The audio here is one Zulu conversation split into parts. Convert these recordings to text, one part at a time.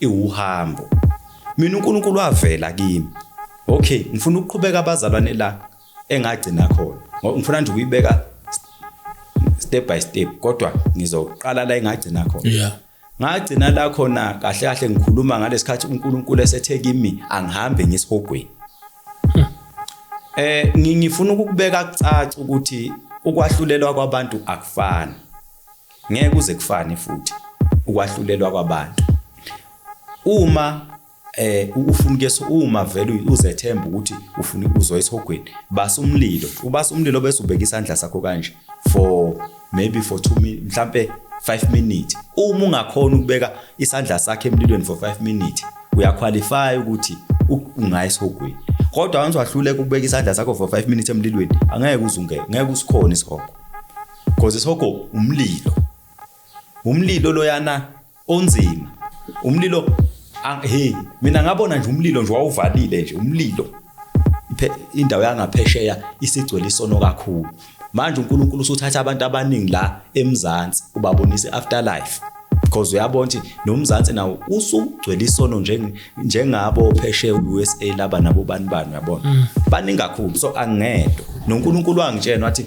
iwuhambo Mina uNkulunkulu wavela kimi okay ngifuna ukuqhubeka abazalwane la engagcina khona ngoba ngifuna nje ukuyibeka step by step kodwa ngizoqala la engagcina khona yeah ngagcina la khona kahle kahle ngikhuluma ngalesikhathi uNkulunkulu esethe kimi angihambe ngisihogweni hmm. eh ngifuna ukubeka kucaca ukuthi ukwahlulelwa kwabantu akufani Ngeke kuze kufane futhi ukwahlulelwa kwabantu. Uma eh ufuna kuyeso uma vele uzethemba ukuthi ufuna ukuzwa esihogweni basa umlilo ubasa umlilo bese ubeka isandla sakho kanje for maybe for 2 minutes mhlambe 5 minutes uma ungakhona ukubeka isandla sakhe emlilweni for 5 minutes uyaqualify ukuthi ungaya esihogweni kodwa once wahluleka ukubeka isandla sakho for 5 minutes emlilweni angeke uzungeke ngeke usikhona isihogo Cause isihogo umlilo. Umlilo loyana onzima. Umlilo hey mina ngabona nje umlilo nje wawuvalile nje umlilo. Indawo yangaphesheya isigcwele isono kakhulu. Manje uNkulunkulu usuthatha abantu abaningi la eMzansi ubabonisa afterlife. because uyabona ukuthi nomzansi nawo usugcwele isono njengabo phesheya u-usa laba nabo bani bani uyabona mm. baningi kakhulu so angedwa nonkulunkulu wangitshena wathi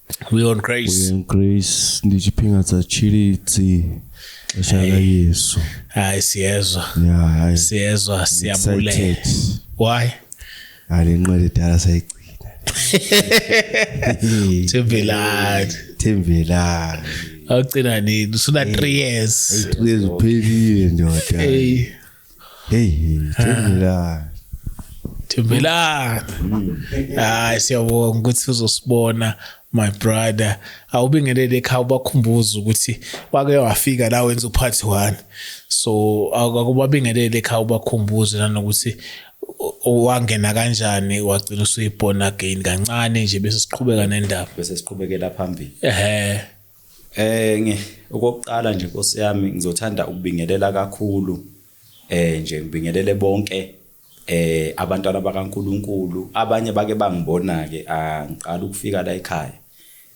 We on grace. We on grace. Ndijiphinga tsa chili tsi. Xesha la Yesu. Hayi siyezwa. Yeah, hayi. Siyezwa siyabulela. Why? Ale nqele dala sayigcina. Thembelani. Thembelani. Awugcina nini? Usuna 3 years. 3 years uphelile ndoda. Hey. hey thembelani thembelani hayi siyabonga ukuthi uzosibona my brother awubingelele ekhaya ubakhumbuza ukuthi wake wafika la wenza uphathi one so akubabingelele ekhaya ubakhumbuze nanokuthi wangena kanjani wagcina usuyibona again kancane nje bese siqhubeka nendaba bese siqhubekela phambili ehe Eh nge okokuqala nje Nkosi yami ngizothanda ukubingelela kakhulu eh nje ngibingelele bonke eh abantwana bakaNkuluNkulu abanye bake bangibona ke angiqala ukufika la ekhaya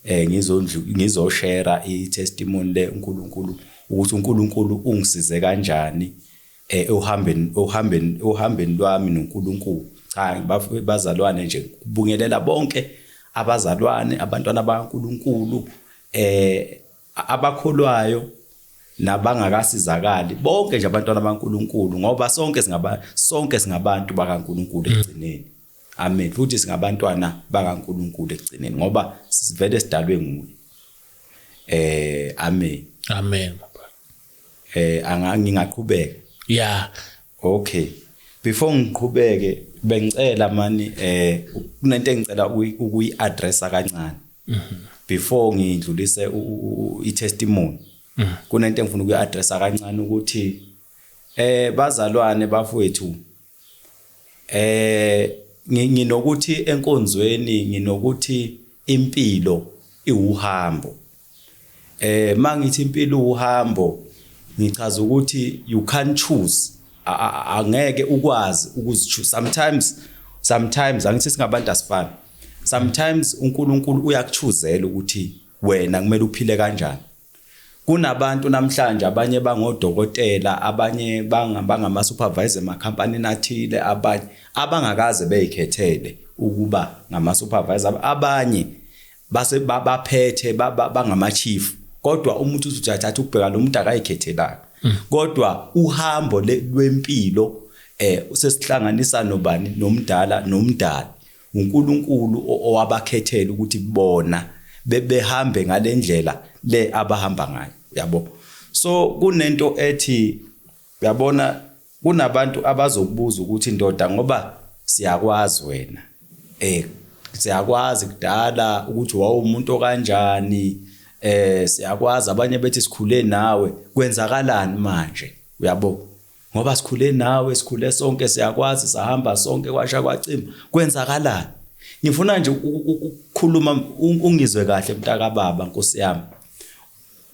eh ngizondlu ngizoshare i testimony le uNkuluNkulu ukuthi uNkuluNkulu ungisize kanjani eh uhambeni uhambeni uhambeni lwami noNkulunkulu cha bazalwane nje kubungelela bonke abazalwane abantwana baNkulunkulu eh abakholwayo nabangakasizakali bonke nje abantwana baNkuluNkulu ngoba sonke singaba sonke singabantu bakaNkuluNkulu mm. ekugcineni amen futhi singabantwana bakaNkuluNkulu ekugcineni ngoba sivele sidalwe nguye eh amen amen Eh anga ngingaqhubeka. Yeah. Okay. Before ngiqhubeke bengicela mani eh kunento engicela ukuyi addressa kancane. Mhm. Before ngidlulise i testimony. Mhm. Kunento engifuna ukuyi addressa kancane ukuthi eh bazalwane bafowethu eh nginokuthi enkonzweni nginokuthi impilo iwuhambo Eh mangithi impilo uhambo ngichaza ukuthi you can't choose angeke ukwazi ukuzichoose sometimes sometimes angithi singabantu asifani sometimes uNkulunkulu uyakuchuzela ukuthi wena kumele uphile kanjani kunabantu namhlanje abanye bangodokotela abanye bangama supervisor emakhampanini athile abanye abangakaze beyikhethele ukuba ngama supervisor abanye base baphethe bangama chief kodwa umuntu uzothatha ukubheka lo muntu akayikhethelanga mm. kodwa uhambo lwempilo eh usesihlanganisa nobani nomdala nomdala uNkulunkulu owabakhethela ukuthi bona bebehambe ngalendlela le abahamba ngayo yabo so kunento ethi Uyabona kunabantu abazokubuza ukuthi ndoda ngoba siyakwazi wena eh siyakwazi kudala ukuthi wawumuntu okanjani eh siyakwazi abanye bethi sikhule nawe kwenzakalani manje uyabo ngoba sikhule nawe sikhule sonke siyakwazi sahamba sonke kwasha kwacima kwenzakalani ngifuna nje ukukhuluma ungizwe kahle mntaka baba nkosi yami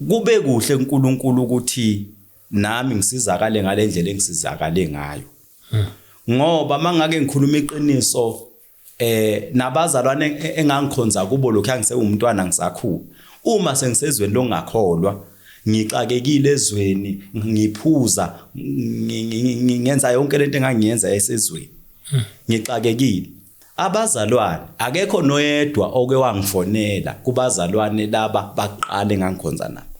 kube kuhle uNkulunkulu ukuthi nami ngisizakale ngalendlela engisizakale ngayo hmm. ngoba mangake ngikhuluma iqiniso eh nabazalwane e-, engangikhonza kubo lokho angisewumntwana ngisakhulu uma sengisezweni longakholwa ngixakekile ezweni ngiphuza ngenza yonke lento engangiyenza esezweni hmm. ngixakekile abazalwane akekho noyedwa oke wangifonela kubazalwane laba baqale ngangikhonza nabo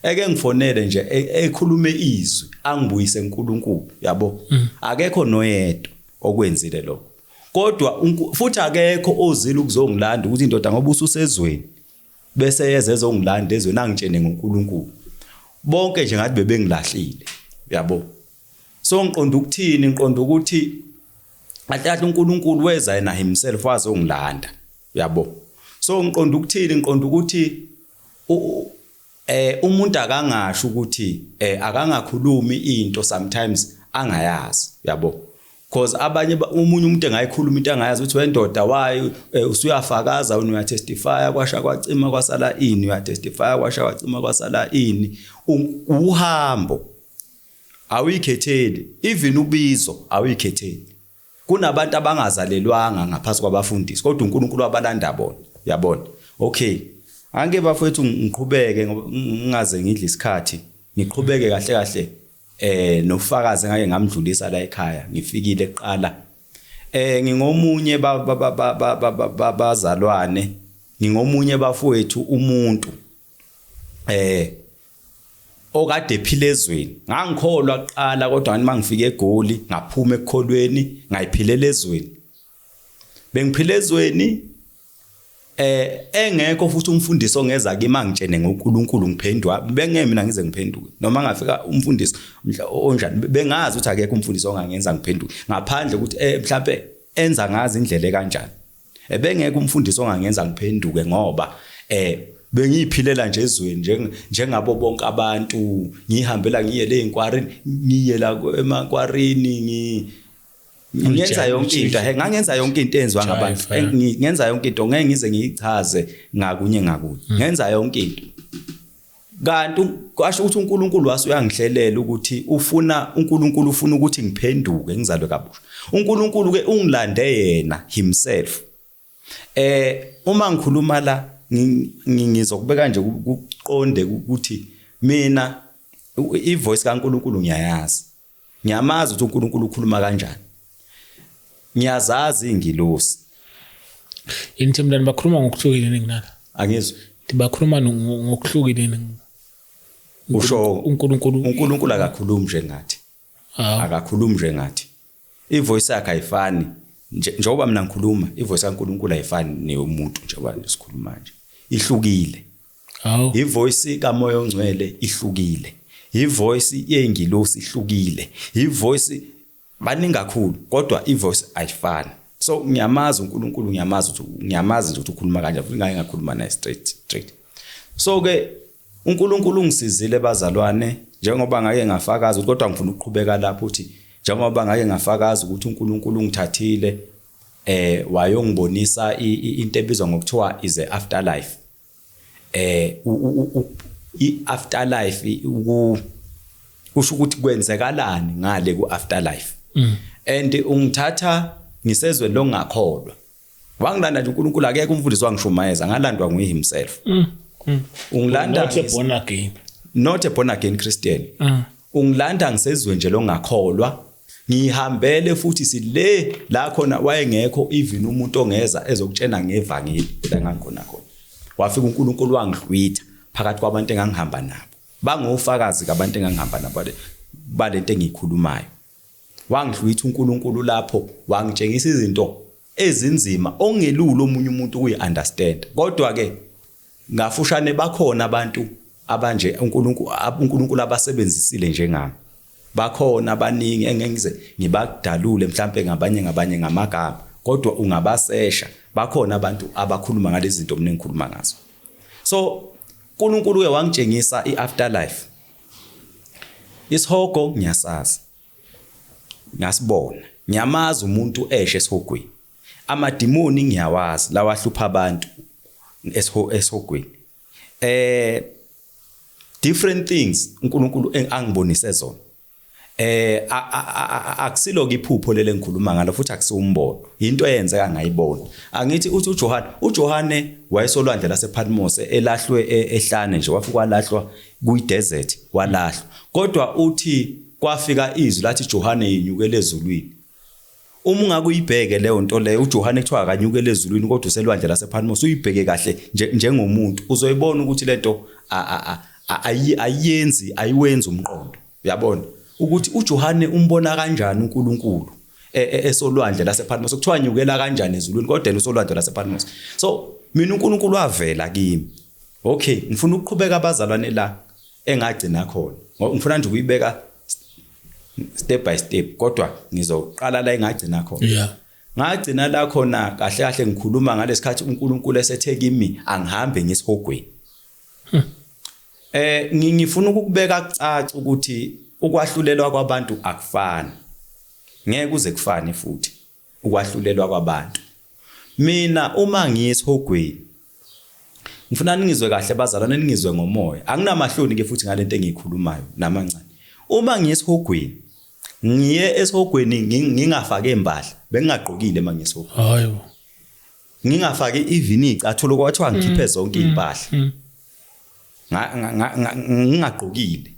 eke ngifonele nje e, ekhulume izwi angibuyise uNkulunkulu yabo mm. akekho noyedwa okwenzile lokho kodwa futhi akekho ozile ukuzongilanda ukuthi indoda ngoba ususezweni bese yeze ezongilanda ezweni angitshene ngoNkulunkulu bonke nje ngathi bebengilahlile yabo so ngiqonda ukuthini ngiqonda ukuthi athatha uNkulunkulu weza yena himself wazongilanda yabo so ngiqonda ukuthini ngiqonda ukuthi Eh umuntu akangasho ukuthi eh akangakhulumi into sometimes angayazi yabo because abanye umunye umuntu engayikhuluma into angayazi ukuthi wendoda wayo eh, usuyafakaza wena uya testify kwasha kwacima kwasala ini uya testify kwasha kwacima kwasala ini uhambo awuyikhetheli even ubizo awuyikhetheli Kunabantu abangazalelwanga ngaphansi kwabafundisi kodwa uNkulunkulu wabalanda bona. Yabona. Okay. Anke bafethu ngiqhubeke ngingaze ngidle isikhathi. Ngiqhubeke kahle kahle eh nofakazi ngake ngamdlulisa la ekhaya ngifikile kuqala. Eh ngingomunye bazalwane ngingomunye bafowethu umuntu eh okade ephila ezweni ngangikholwa kuqala kodwa ngithi mangifika egoli ngaphuma ekukholweni ngayiphilela ezweni bengiphila ezweni eh engekho futhi umfundisi ongeza kimi angitshene ngoNkulunkulu ngiphendwa bengeke mina ngize ngiphenduke noma ngafika umfundisi onjani bengazi ukuthi akekho umfundisi ongangenza ngiphenduke ngaphandle ukuthi eh mhlawumbe enza ngazi indlela ekanjani Ebengeke umfundisi ongangenza ngiphenduke ngoba eh bengiyiphilela nje ezweni njengabo bonke abantu ngihambela ngiye le inkwarini ngiye la emakwarini ngi ngenza yonke into he ngangenza yonke into enziwa ngabantu ngenza yonke into ngeke ngize ngiyichaze ngakunye ngakunye mm. ngenza yonke into kanti kwasho ukuthi uNkulunkulu waso uyangihlelela ukuthi ufuna uNkulunkulu ufuna ukuthi ngiphenduke ngizalwe kabusha uNkulunkulu ke ungilande yena himself eh uma ngikhuluma la ngizokubeka nje kuqonde ukuthi mina ivoice kaNkulunkulu ngiyayazi Ngiyamazi ukuthi uNkulunkulu ukhuluma kanjani. Ngiyazazi ingilosi. Yini themdani bakhuluma ngokuhlukile ninginaka? Angizwa. Bakhuluma ngokuhlukile ninginaka. usho uNkulunkulu uNkulunkulu akakhulumi njengathi ah. akakhulumi njengathi ivoice yakhe ayifani njengoba mina ngikhuluma ivoice kaNkulunkulu ayifani neyomuntu njengoba sikhuluma nje ihlukile Hawu. Ivoice kaMoya oNgcwele ihlukile. Ivoice yengilosi ihlukile. Ivoice baningi kakhulu kodwa ivoice ayifani. So ngiyamazi uNkulunkulu ngiyamazi ukuthi ngiyamazi nje ukuthi ukhuluma kanje futhi ngake ngakhuluma naye straight straight. So ke uNkulunkulu ungisizile bazalwane njengoba ngake ngafakaza ukuthi kodwa ngifuna ukuqhubeka lapho ukuthi njengoba ngake ngafakaza ukuthi uNkulunkulu ungithathile eh wayongibonisa into ebizwa ngokuthiwa is a afterlife eh i afterlife ku kusho ukuthi kwenzekalani ngale ku afterlife mm. and ungithatha ngisezwe longakholwa wangilanda nje uNkulunkulu akekho umfundisi wangishumayeza ngalandwa nguye himself mm. mm. ungilanda not a born again not a born again christian mm. Ungilanda ngisezwe nje longakholwa ngihambele futhi sile la khona wayengekho even umuntu ongeza ezokutshena ngevangeli la ngakhona khona wafika uNkulunkulu wangihlwitha phakathi kwabantu engangihamba nabo bangofakazi kabantu engangihamba nabo balento engiyikhulumayo wangihlwitha uNkulunkulu lapho wangitshengisa izinto ezinzima ongelula omunye umuntu ukuyi understand kodwa ke Ngafushane bakhona abantu abanje uNkulunkulu uNkulunkulu abasebenzisile njengami. Bakhona abaningi engengize ngibadalule mhlambe ngabanye ngabanye ngamagama kodwa ungabasesha bakhona abantu abakhuluma ngalezi zinto mina engikhuluma ngazo. So uNkulunkulu uye wangitshengisa iafterlife. Isihogo ngiyasazi. Ngasibona. Ngiyamazi umuntu eshe esihogweni. Amadimoni ngiyawazi lawa ahlupha abantu esihogweni. Eh different things uNkulunkulu angibonise zona. Eh akusilo iphupho lele ngikhuluma ngalo futhi akusiwumbono. Into eyenzeka ngayibona. Angithi uthi uJohane, uJohane wayesolwandle lasePatmos elahlwe e-, ehlane nje wafika walahlwa kuyidesert walahlwa. Kodwa uthi kwafika izwi lathi Johane yenyukele ezulwini. Uma ungake uyibheke leyo nto leyo uJohane kuthiwa akanyukele ezulwini kodwa uselwandle lasePatmos uyibheke kahle njengomuntu uzoyibona ukuthi lento ayiyenzi ayiwenzi umqondo uyabona ukuthi uJohane umbona kanjani uNkulunkulu e, e, esolwandle lasePatmos kuthiwa nyukela kanjani ezulwini kodwa yena usolwandle lasePatmos so mina uNkulunkulu wavela kimi okay ngifuna ukuqhubeka abazalwane la engagcina khona ngifuna nje ukuyibeka step by step kodwa ngizoqala la engagcina khona yeah ngagcina la khona kahle kahle ngikhuluma ngalesikhathi uNkulunkulu esethe kimi angihambe ngisihogweni hmm. eh ngifuna ukubeka kucaca ukuthi ukwahlulelwa kwabantu akufani ngeke uze kufane futhi ukwahlulelwa kwabantu mina uma ngiyesihogweni ngifuna ningizwe kahle bazalwane ningizwe ngomoya anginamahloni ke futhi ngalento engiyikhulumayo namancane uma ngiyesihogweni ngiye esihogweni ngingafake impahla bengingagqokile uma ngiyesihogweni hayo ngingafaki even icathulo kwathiwa mm, ngikhiphe zonke mm, impahla mm. ngingagqokile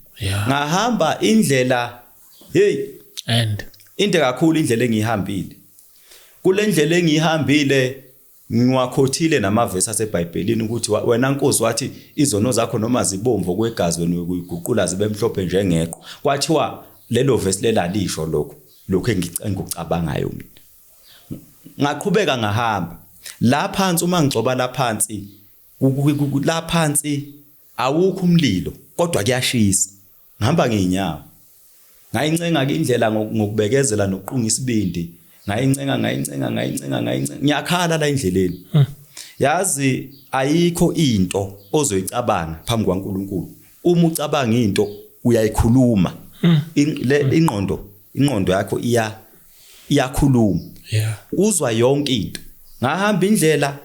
ngahamba indlela hey and into kakhulu indlela engihambile kule ndlela engihambile ngiwakhothile namavesi aseBhayibhelini ukuthi wena Nkosi wathi izono zakho noma zibomvu kwegazi wena uyiguqula zibe mhlophe njengeqo kwathiwa lelo vesi lelalisho lokho lokho engikucabangayo mina ngaqhubeka ngahamba la phansi uma ngigcoba la phansi la phansi awukho umlilo kodwa kuyashisa ngihamba ngeenyawo ngayincenga ke indlela ngokubekezela nokuqunga isibindi ngayincenga ngayincenga ngayincenga ngayincenga ngiyakhala la endleleni hmm. yazi ayikho into ozoyicabanga phambi kwaNkuluNkulu uma ucabanga into uyayikhuluma hmm. le hmm. ingqondo ingqondo yakho iya iyakhuluma yeah uzwa yonke into ngahamba indlela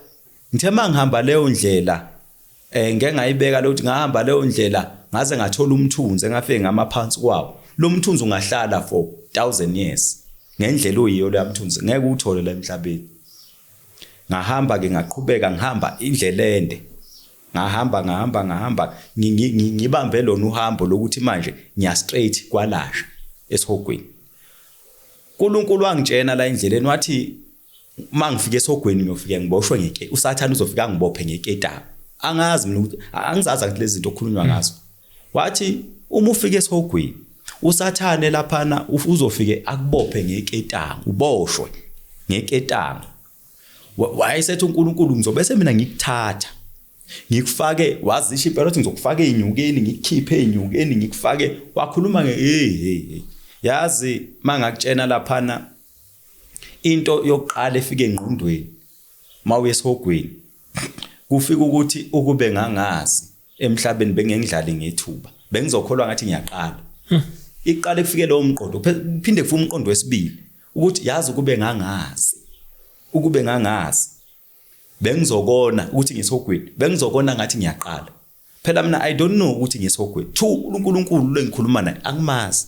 ngithe mangihamba leyo ndlela eh ngeke ngayibeka lokuthi ngahamba leyo ndlela ngaze ngathola umthunzi engafike ngamaphansi kwawo lo mthunzi ungahlala for 1000 years ngendlela oyiyo leya mthunzi ngeke uthole la emhlabeni ngahamba ke ngaqhubeka ngihamba indlela ende Ngahamba ngahamba ngahamba ngibambe lona uhambo lokuthi manje ngiya straight kwalasha esihogweni. uNkulunkulu wangitshena la endleleni wathi uma ngifika esihogweni ngiyofike ngiboshwe ngeke usathane uzofika ngibophe ngeketanga angazi mina ukuthi angizazi ukuthi lezi zinto okukhulunywa hmm. ngazo wathi uma ufika esihogweni usathane laphana uzofike akubophe ngeketanga uboshwe ngeketanga wayesethi uNkulunkulu ngizobe semina ngikuthatha ngikufake wazisho impela ukuthi ngizokufaka ezinyukeni ngikukhiphe ezinyukeni ngikufake wakhuluma nge hey hey hey yazi mangakutshena laphana into yokuqala efike engqondweni mawuye esihogweni kufika ukuthi ukube ngangazi emhlabeni bengengidlali ngethuba bengizokholwa ngathi ngiyaqala hmm. iqala kufike lowo mqondo phinde kufume umqondo wesibili ukuthi yazi ukube ngangazi ukube ngangazi bengizokona ukuthi ngisogwini bengizokona ngathi ngiyaqala phela mina i don't know ukuthi ngisogwini thu uNkulunkulu lengikhuluma naye angimazi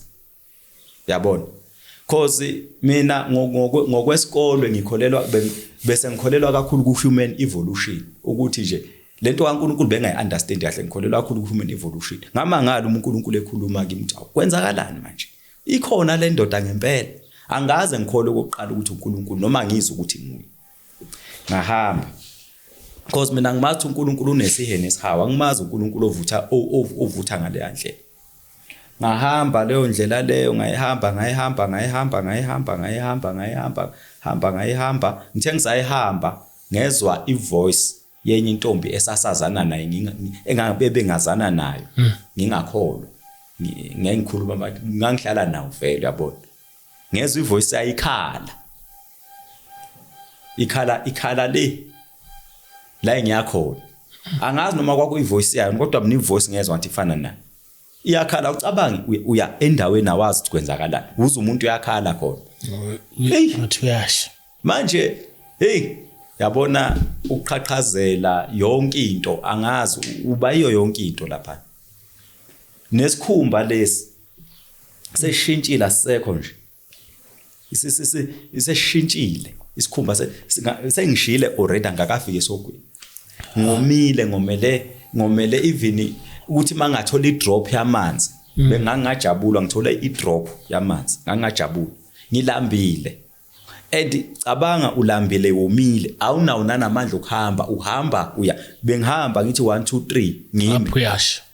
yabona cause mina ngokwesikole ngikholelwa bese ngikholelwa kakhulu ku human evolution ukuthi nje lento kaNkulunkulu bengayi understand kahle ngikholelwa kakhulu ku human evolution ngamangala uNkulunkulu ekhuluma kimi ukuthi kwenzakalani manje Ikhona le ndoda ngempela. Angaze ngikhole ukuqala ukuthi uNkulunkulu noma ngizwe ukuthi nguye. Ngahamba. Because mina ngimathi uNkulunkulu unesihene esihawa, angimazi uNkulunkulu ovutha ovutha ngale yandlela. ngahamba leyo ndlela leyo ngayihamba ngayihamba ngayihamba ngayihamba ngayihamba ngayihamba hamba ngayihamba ngithe ngisayihamba ngezwa ivoice yenye intombi esasazana naye engabebengazana nayo hmm. ngingakholwa ngengikhuluma bathi ngangihlala nawo vele yabona ngezwe ivoice ayikhala ikhala ikhala le la engiyakhona angazi noma kwakuyivoice yayo kodwa mina ivoice ngezwa ngathi ifana nayo iyakhala ucabangi uya endaweni awazi ukuthi kwenzakalani uze umuntu uyakhala khona hey ngathi uyasha manje hey yabona ukuqhaqhazela yonke into angazi uba iyo yonke into lapha nesikhumba lesi seshintshile asekho nje iseshintshile isikhumba sengishile already angakafiki esogwini ngomile ngomele ngomele even ukuthi mangathola idrop yamanzi mm. bengangajabula ngithola idrop yamanzi ngangajabula ngilambile and cabanga ulambile womile awunawo nanamandla okuhamba uhamba uya bengihamba ngithi 1 2 3 ngimi uyasho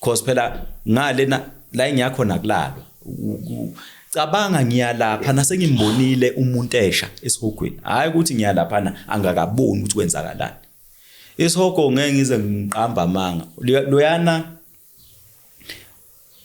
cause phela ngalena la engiyakho nakulalwa cabanga ngiyalapha nasengimbonile umuntu esha esihogweni hayi ukuthi ngiyalaphana angakaboni ukuthi kwenzakalani isihogo ngeke ngize ngiqamba amanga loyana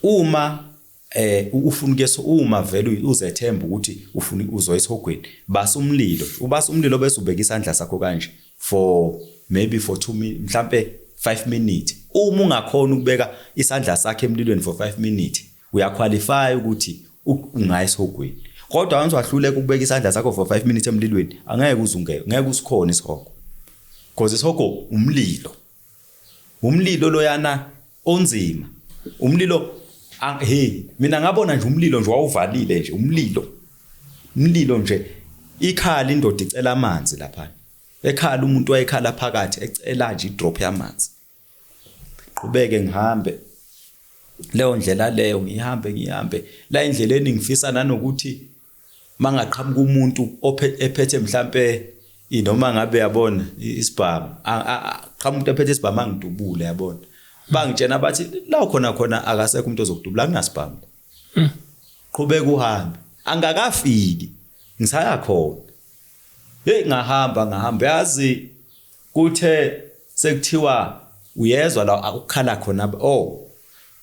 uma eh ufuna ukuyesa uma vele uzethemba ukuthi ufuna uzo esihogweni basa umlilo ubasa umlilo bese ubeka isandla sakho kanje for maybe for 2 minutes mhlambe 5 minutes uma ungakhona ukubeka isandla sakhe emlilweni for 5 minutes uyaqualify ukuthi ungaya esihogweni kodwa once wahluleka ukubeka isandla sakho for 5 minutes emlilweni angeke uzungeke ngeke usikhona isihogo because isihogo umlilo umlilo loyana onzima umlilo hey mina ngabona nje umlilo nje wawuvalile nje umlilo umlilo nje ikhala indoda icela amanzi lapha ekhala umuntu wayekhala phakathi ecela nje idrop yamanzi qhubeke ngihambe leyo ndlela leyo ngihambe ngihambe la endleleni ngifisa nanokuthi mangaqhamuka umuntu ephethe mhlampe inoma ngabe yabona isibhamu qhamuka umuntu ephethe isibhamu angidubule yabona bangitshena bathi la khona khona akasekho umuntu ozokudubula kunasibhamu hmm. qhubeka uhambe angakafiki ngisaya khona hey ngahamba ngahamba yazi Kuthe sekuthiwa uyezwa la akukhala khona oh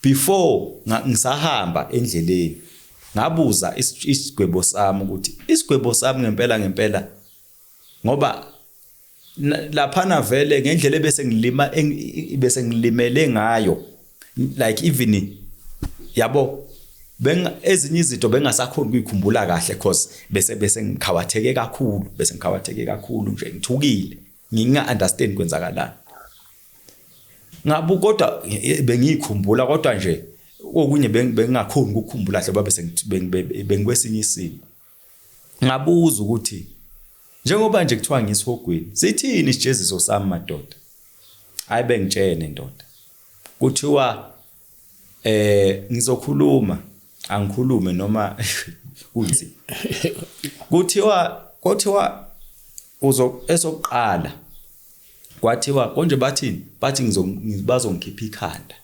before ngisahamba endleleni ngabuza isigwebo sami ukuthi isigwebo sami ngempela ngempela ngoba laphana vele ngendlela bese ngilima bese ngilimele ngayo like even yabo benga ezinye izinto bengasakhona ukuyikhumbula kahle cause bese bese ngikhawatheke kakhulu bese ngikhawatheke kakhulu nje ngithukile nginga understand kwenzakalani ngabu kodwa bengiyikhumbula kodwa nje okunye bengingakhona ukukhumbula hle babe sengikwesinye isimo ngabuza ukuthi njengoba nje kuthiwa ngisihogweni sithini isijeziso sami madoda hayi bengitshene ndoda kuthiwa eh ngizokhuluma angikhulume noma kunzi kuthiwa kuthiwa uzo esokuqala kwathiwa konje bathini bathi ngizobazongikhipha ikhanda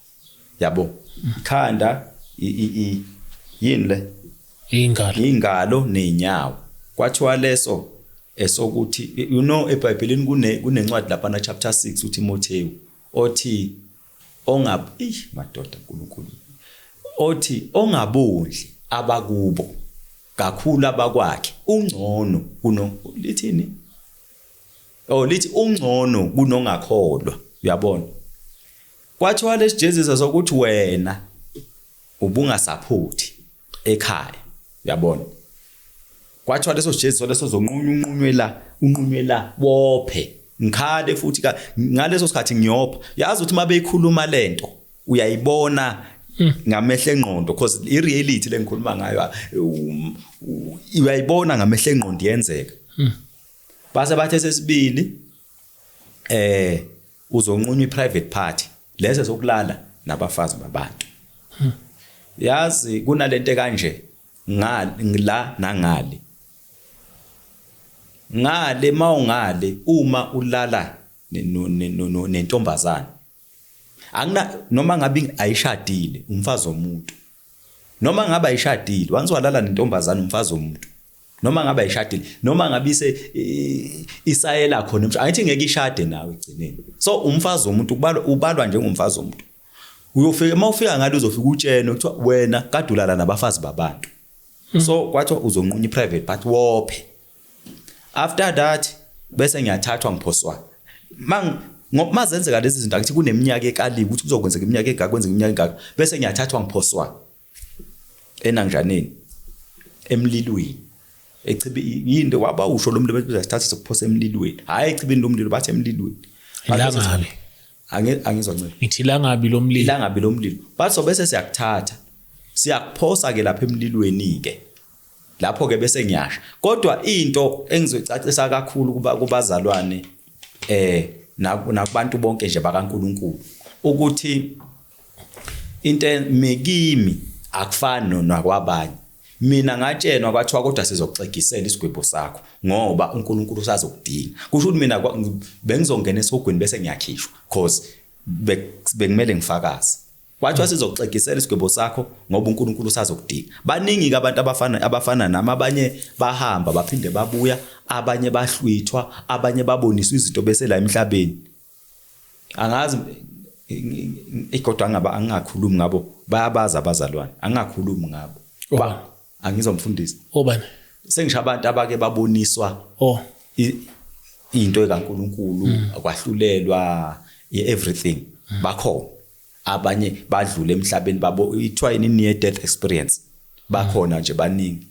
yabo ikhanda yini le ingalo ingalo nenyawo kwathiwa leso esokuthi you know eBhayibhelini kune kunencwadi lapha na chapter 6 uTimotheu othi ongab ih madoda uNkulunkulu othi ongabondli abakubo kakhulu abakwakhe ungcono kuno lithini oh lithi ungcono kunongakholwa uyabona Kwathiwa lesijezisa sokuthi wena ubungasaphothi ekhaya. Uyabona? Kwathiwa leso sijezisa leso zonqunywa unqunywe la, unqunywe la bophe. Ngikhale futhi ka ngaleso sikhathi ngiyopha. Yazi ukuthi mabeyikhuluma lento uyayibona hmm. ngamehle engqondo because i reality lengikhuluma ngayo um, uyayibona ngamehle engqondo yenzeka hmm. base bathe sesibili eh Uzonqunywa iprivate party lezi zokulala nabafazi babantu. Hmm. Yazi kunalento kanje ngila nangale. Ngale mawungale uma ulala nentombazana. Angina noma ngabe ayishadile umfazi womuntu. noma ngabe ayishadile once walala nentombazana umfazi womuntu noma ngabe ayishadile noma ngabe ise isayela khona umfazi angithi ngeke ishade nawe egcineni so umfazi womuntu ubalwa ubalwa njengomfazi womuntu uyofika uma ufika ngalo uzofika utshene kuthiwa wena kadulala nabafazi babantu hmm. so kwathiwa uzonqunya i-private part wophe after that bese ngiyathathwa ngiphoswa mang ngoba zenzeka lezi zinto akuthi kuneminyaka ekaliwe ukuthi kuzokwenzeka iminyaka engaka kwenzeka iminyaka engaka bese ngiyathathwa ngiphoswa enangijaneni emlilweni echibi yini waba usho lo mlilo bese sithatha sokuphosa emlilweni hayi echibini lo mlilo bathi emlilweni ilangabi angizwa ncela ngithi langabi lo mlilo langabi lo mlilo bathi so bese siyakuthatha siyakuphosa ke lapha emlilweni ke lapho ke bese ngiyasha kodwa into engizoyicacisa kakhulu kuba kubazalwane eh nakubantu bonke nje bakaNkuluNkulu ukuthi into mekimi akufani nakwabanye mina ngatshenwa kwathiwa kodwa sizoxegisela isigwebo sakho ngoba uNkulunkulu usazokudinga kusho ukuthi mina bengizongena esogwini bese ngiyakhishwa because bekumele ngifakaze Kwathiwa sizokuxegisela isigwebo sakho ngoba uNkulunkulu usazokudinga. Baningi-ke abantu abafana abafana nami abanye bahamba baphinde babuya, abanye bahlwithwa, abanye baboniswa izinto bese la emhlabeni. Angazi kodwa ngaba angingakhulumi ngabo bayabaza abazalwane angingakhulumi ngabo. Ba angizomfundisa. Obani? Sengisho abantu abake baboniswa oh into ekaNkuluNkulu mm. akwahlulelwa everything mm. bakhona. abanye badlule emhlabeni babo ithiwa ini near death experience bakhona nje baningi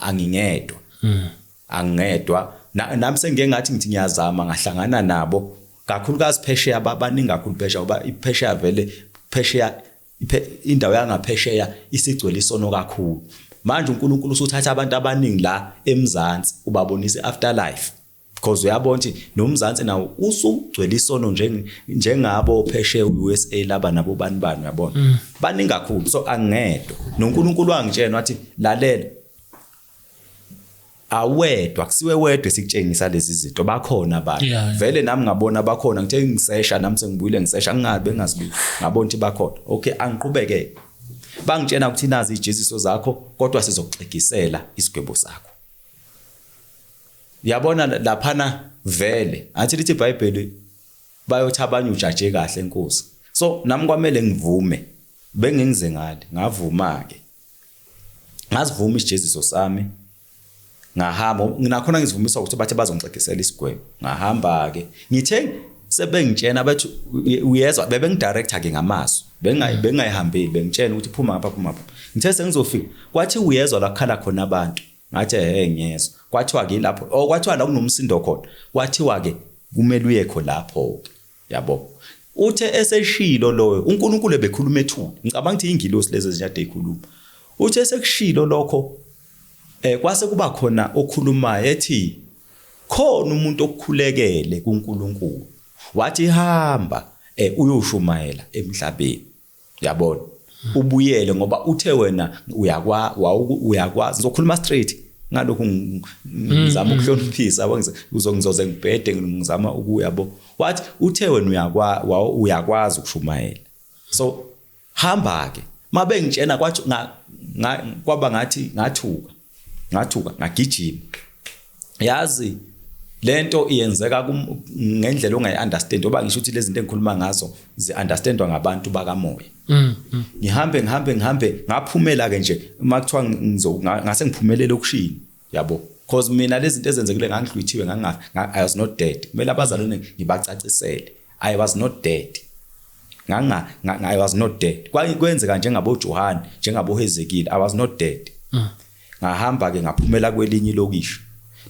angingedwa hmm. angingedwa nami sengike ngathi ngithi ngiyazama ngahlangana nabo kakhulukazi phesheya abaningi kakhulu phesheya ngoba iphesheya vele phesheya indawo yangaphesheya isigcwele isono kakhulu manje uNkulunkulu usuthatha abantu abaningi la eMzansi ubabonisa afterlife because uyabona ukuthi nomzansi nawo usugcwele isono njengabo pheshe uUSA laba nabo bani bani uyabona mm. baningi kakhulu so angedwa noNkulunkulu wangitshena wathi lalela awedwa kusiwe wedwa sikutshengisa lezi zinto bakhona abantu yeah, yeah. vele nami ngabona bakhona ngithe ngisesha nami sengibuyile ngisesha ngingabe ngazibuki ngabona ukuthi bakhona okay angiqhubeke bangitshena ukuthi nazi ijeziso zakho kodwa sizokuxegisela isigwebo sakho yabona laphana vele athi lithi iBhayibheli bayothi abanye ujaje kahle inkosi so nami kwamele ngivume bengingize ngale ngavuma ke ngazivuma isijeziso sami ngahamba nginakhona ngizivumisa ukuthi bathe bazongixegisela isigwebo ngahamba ke ngithe sebengitshena bathi uyezwa bebe ngidirector ke ngamaso bengayi bengayihambeli bengitshena ukuthi phuma ngapha phuma ngithe sengizofika kwathi uyezwa lakhala khona abantu Ngathi ehhe ngiyezwa. Kwathiwa ke lapho oh kwathiwa la kunomsindo khona. Kwathiwa ke kumele uyekho lapho ke. Yabo. Uthe eseshilo loyo uNkulunkulu ebekhuluma ethuna. Ngicabanga ukuthi ingilosi lezi ezinyade ezikhuluma. Uthe sekushilo lokho eh kwase kuba khona okhulumayo ethi khona umuntu okukhulekele kuNkulunkulu. Wathi hamba eh uyoshumayela emhlabeni. yabona ubuyele ngoba uthe wena uyakwa uyakwazi uzokhuluma straight ngalokhu mm, ngizama mm. ukuhloniphisa uzongizoze ngibhede ngizama ukuya bo wathi uthe wena uyakwa uyakwazi ukushumayela so hamba ke mabengitshena kwathi kwaba ngathi ngathuka ngathuka ngagijima yazi lento iyenzeka ngendlela ongayi-understand oba ngisho ukuthi lezinto engikhuluma ngazo zi-understandwa ngabantu bakamoya mm, mm. ngihambe ngihambe ngihambe ngaphumela-ke nje uma kuthiwa ngase ngiphumelele okushini yabo because mina lezinto ezenzekile ngangidlwithiwe i was not dead kumele abazalwane ngibacacisele i was not dead nganga i was not dead kwenzeka njengabojohane njengabohezekile i was not dead mm. ngahamba ke ngaphumela kwelinye ilokishi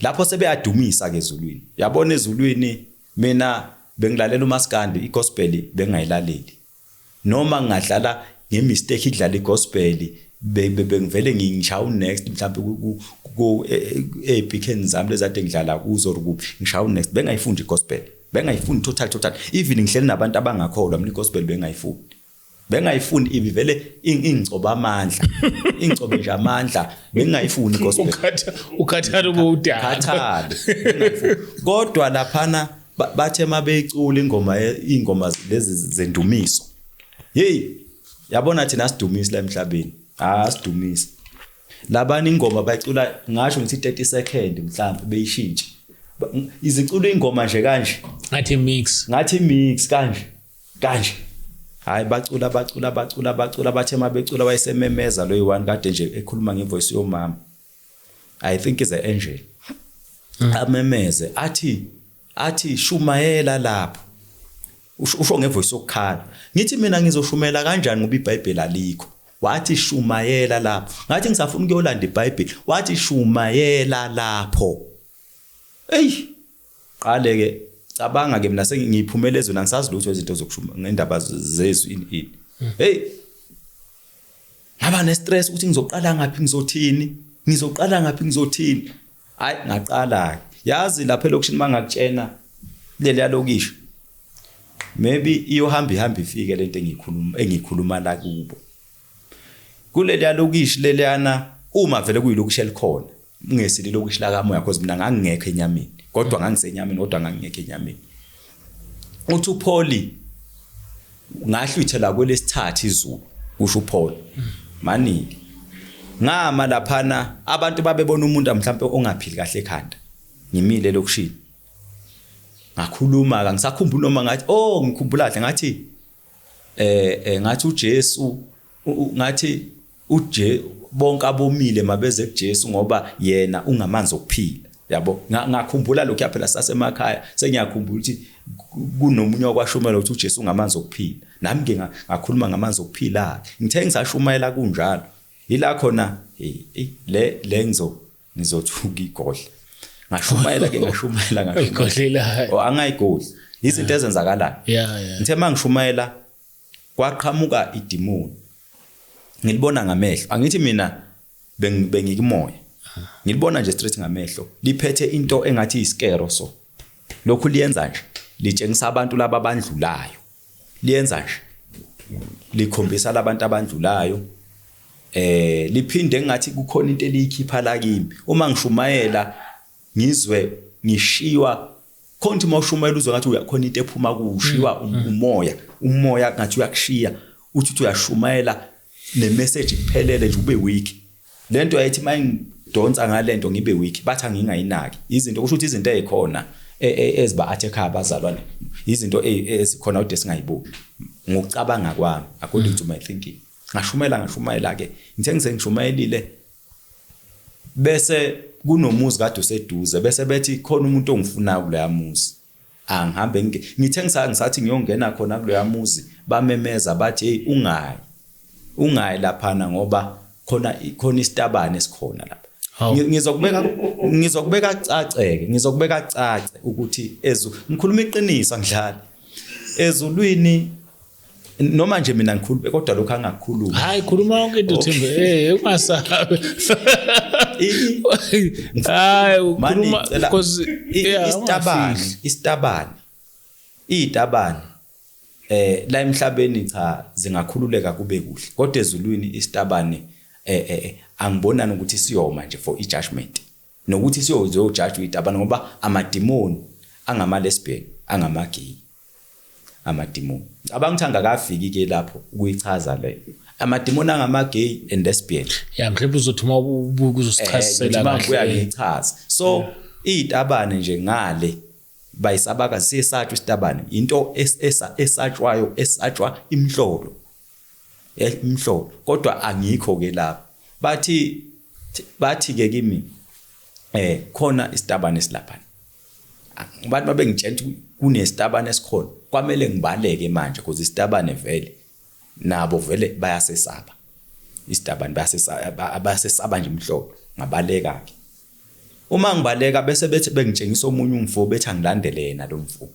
lapho sebeyadumisa ke ezulwini yabona ezulwini mina bengilalela umaskandi igospel bengayilaleli noma ngadlala ngemistake idlala igospel bengivele ngingishaya unext mhlawumbe ku epic e, e, e, zami lezade ngidlala kuzo or kuphi ngishaya unext bengayifundi igospel bengayifuni total total even ngihleli nabantu abangakholwa mina igospel bengayifuni bengayifuni ibi vele ingcoba amandla ingcobe nje amandla bengayifuni gospel ukhatha ukhathala ubudala khathala kodwa laphana bathe mabeyicula ingoma ingoma lezi zendumiso hey yabona thina sidumisa la emhlabeni ah sidumisa labani ingoma bayicula ngasho ngithi 30 second mhlawumbe beyishintshe izicula ingoma nje kanje ngathi mix ngathi mix kanje kanje hayi bacula bacula bacula bacula bathe uma becula wayesememeza loyi one kade nje ekhuluma ngevoice yomama i think is an angel mm. amemeze athi athi shumayela lapho usho ngevoice yokukhala ngithi mina ngizoshumela kanjani ngoba iBhayibheli alikho wathi shumayela lapho ngathi ngisafuna ukuyolanda iBhayibheli wathi shumayela lapho ey qale ke cabanga ke mina sengiyiphumela ezweni angisazi lutho izinto zokushuma ngendaba zezwi ini ini hmm. hey ngaba ne stress ukuthi ngizoqala ngaphi ngizothini ngizoqala ngaphi ngizothini hayi ngaqala yazi lapha elokishini mangakutshena leli yalokisho maybe iyohamba ihamba ifike lento engikhuluma engikhuluma la kubo kuleli yalokishi leliyana uma vele kuyilokishi elikhona ungesile ilokishi lakamoya cause mina ngangingekho enyameni kodwa ngangisenyameni kodwa ngangingekho enyameni uthi uPauli ngahlwithela kwelesithathu izulu kusho uPaul maningi ngama laphana abantu babebona umuntu mhlawumbe ongaphili kahle ekhanda ngimile lokushini ngakhuluma ka ngisakhumbula noma ngathi oh ngikhumbula kahle ngathi eh, eh ngathi uJesu ngathi uje bonke abomile mabeze kuJesu ngoba yena ungamanzi okuphila yabo ngakhumbula lokho yaphela sasemakhaya sengiyakhumbula ukuthi kunomunye wakwashumela ukuthi uJesu ungamanzi okuphila nami ke ngakhuluma ngamanzi okuphila ngithe ngisashumayela kunjalo yila khona le le ngizo ngizothuka igodla ngashumayela ke ngashumayela ngashumayela oh, angayigodli izinto ezenzakalayo ngithe uma ngishumayela kwaqhamuka idimoni ngilibona ngamehlo angithi mina bengikumoya ngilibona nje straight ngamehlo liphethe into engathi iskero so lokhu liyenza nje litshengisa abantu laba bandlulayo liyenza nje likhombisa labantu abandlulayo eh liphinde ngathi kukhona into eliyikhipha la kimi uma ngishumayela ngizwe ngishiywa khonti uma ushumayela uzwe ngathi uyakhona into ephuma kushiwa mm, mm. umoya umoya ngathi uyakushiya uthi uthi uyashumayela ne message iphelele nje ube weak lento ayithi mayingidonsa ngalento ngibe weak batha ngingayinaki izinto kusho ukuthi izinto ezikhona e, e, eziba attack abazalwane izinto e, ezikhona ude singayibuki ngokucabanga kwami according to my thinking ngashumela ngashumayela ke ngithe ngisengishumayelile bese kunomuzi kade useduze bese bethi khona umuntu ongifunayo kuleya muzi angihambe ngi- ngithe ngisa- ngisathi ngiyongena khona kuloya muzi bamemeza bathi heyi ungayi ungayi laphana ngoba khona khona isitabane esikhona lapha Hawu. Ngi- ngizokubeka ngizokubeka caceke ngizokubeka cace ukuthi ezu ngikhuluma iqiniso angidlali ezulwini noma nje mina ngikhulube kodwa lokho angakhulumi hayi khuluma yonke into thimbe eh ungasabi hayi ukhuluma because isitabani isitabani izitabani eh la emhlabeni cha zingakhululeka kube kuhle kodwa ezulwini isitabani eh eh, eh angibonani ukuthi siyoma nje for i judgment Nokuthi siyojajwa idaba ngoba amadimoni angama-lesbian, angama-gay. Amadimoni. Ngicabanga ukuthi angakafiki ke lapho ukuyichaza le. Amadimoni angama-gay and lesbian. Ya mhlawumbe uzothi uma ubuka uzosichazisela eh, kahle. Ubuya ngichaza. So izitabane nje ngale bayisabaka siyesatshwa isitabane into esatshwayo esatshwa imhlolo Eh mhlobo kodwa angikho ke lapho. Bathi bathi ke kimi eh khona isitabane silapha. Abantu babengitshela ukuthi kunesitabane esikhona. Kwamele ngibaleke manje because isitabane vele nabo vele bayasesaba. Isitabane bayasesaba bayasesaba nje mhlobo ngabaleka ke. Uma ngibaleka bese bethi bengitshengisa omunye umfo bethi angilandele yena lo mfo.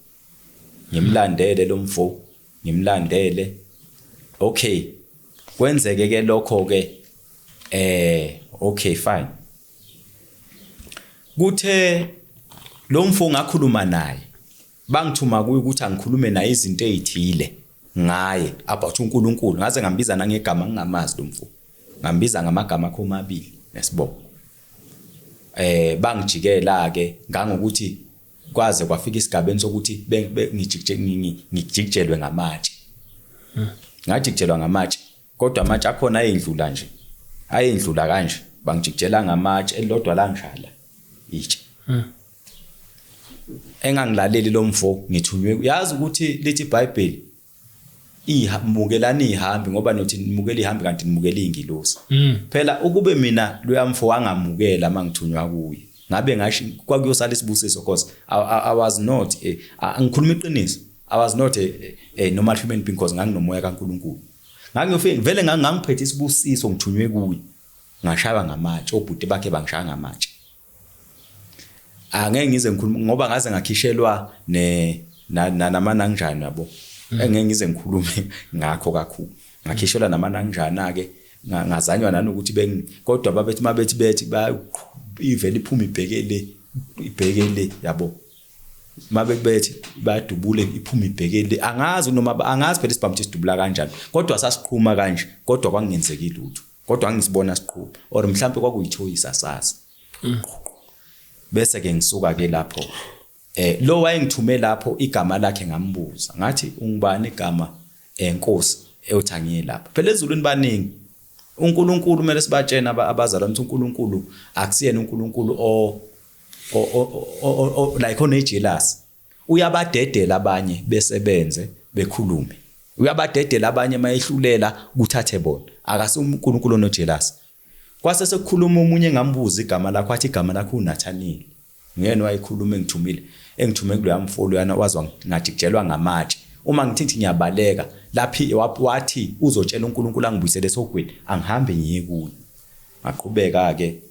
Ngimlandele lo mfo ngimlandele okay kwenzeke ke lokho ke eh okay fine kuthe lo mfo ngakhuluma naye bangithuma kuye ukuthi angikhulume naye izinto ezithile ngaye about uNkulunkulu ngaze ngambiza nangegama ngingamazi lo mfo ngambiza ngamagama akho omabili nesibongo eh bangijikela ke ngangokuthi kwaze kwafika isigabeni sokuthi ngijikijelwe ngamatshe hmm. ngajikijelwa ngamatshe kodwa amatshe akhona ayendlula nje ayendlula kanje bangijikijela ngamatshe elilodwa lanjala itshe hmm. engangilaleli lo mfo ngithunywe yazi ukuthi lithi ibhayibheli iha mukelani ihambi ngoba nothi nimukela ihambi kanti nimukela ingilosi mm. phela ukube mina loyamfo wangamukela mangithunywa kuye ngabe ngasho kwakuyosala isibusiso because I, I, I was not eh, ngikhuluma iqiniso I was not a, eh, a, eh, a normal human being because nganginomoya kaNkuluNkulu ngangiyofika vele ngangiphethe isibusiso ngithunywe kuye ngashaywa ngamatshe obhuti bakhe bangishaya ngamatshe angeke ngize ngikhulume ngoba ngaze ngakhishelwa ne namanangjani yabo mm. engeke ngize ngikhulume ngakho kakhulu ngakhishelwa namanangjana ke ngazanywa nanokuthi bengi kodwa babethi mabethi bethi ba ivele iphuma ibheke le ibheke le yabo mabekubethi badubule iphuma ibheke le angazi noma angazi phela isibhamu sisidubula kanjani kodwa sasiqhuma kanje kodwa kwangenzeki lutho kodwa angisibona siqhuba or mhlambe kwakuyithoyisa sasa mm. bese ke ngisuka ke lapho eh lo wayengithume lapho igama lakhe ngambuza ngathi ungubani igama enkosi eh, ewuthangiye lapha phela ezulwini baningi uNkulunkulu kumele sibatshene abazalwane ukuthi uNkulunkulu akusiyena uNkulunkulu o like onejealous Uyabadedela abanye besebenze bekhulume. Uyabadedela abanye mayehlulela kuthathe bona. Akase uNkulunkulu onojealous. Kwase sekukhuluma omunye engambuza igama lakho athi igama lakho uNathaniel. Nguyena wayekhuluma engithumile engithume kuloya mfolo yana wazwa ngathi kujelwa ngamatshe. Uma ngithi ngithi ngiyabaleka laphi wathi uzotshela uNkulunkulu angibuyisele esogwini angihambe ngiye kuye. Ngaqhubeka ke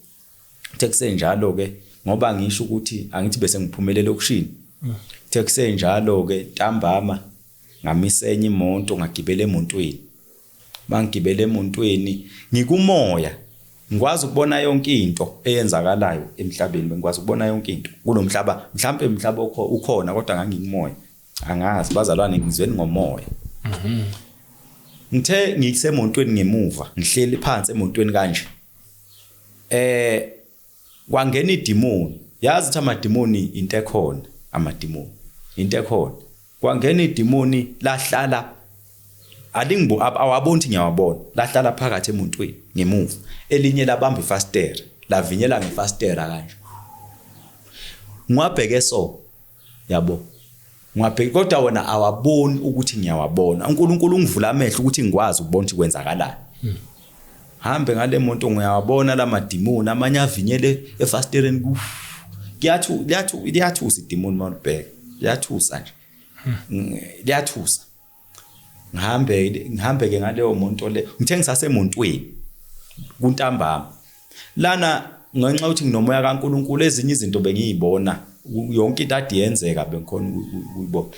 Kuthe kusenjalo-ke ngoba ngisho ukuthi angithi bese ngiphumele elokishini kuthe kusenjalo-ke ntambama ngamisa enye imoto ngagibela emontweni mangigibela emontweni ngikumoya ngikwazi ukubona yonke into eyenzakalayo emhlabeni ngikwazi ukubona yonke into kulo mhlaba mhlawumpe mhlaba ukhona kodwa ngangikumoya angazi bazalwane ngizweni ngomoya mhm. ngithe ngisemontweni ngemuva ngihleli phansi emontweni kanje eh kwangena idimoni yazi ukuthi amadimoni into ekhona amadimoni into ekhona kwangena idimoni lahlala alingibu awaboni ukuthi ngiyawabona lahlala phakathi emuntwini ngemuva elinye labamba ifastera lavinyela ngefastera kanje ngiwabheke so yabo ngwabheki kodwa wona awaboni ukuthi ngiyawabona uNkulunkulu ungivula amehlo ukuthi ngikwazi ukubona ukuthi kwenzakalani hmm. hambe ngale moto ngiyawabona la madimoni amanye avinyele efastereni ku kuyathu liyathu liyathusa idimoni mawubheka liyathusa nje hmm. liyathusa ngihambe ngihambe ke ngaleyo monto le ngithe ngisasemontweni kuntambama lana ngenxa ukuthi nginomoya kaNkuluNkulu ezinye izinto bengiyibona yonke into ade yenzeka bengikhona ukuyibona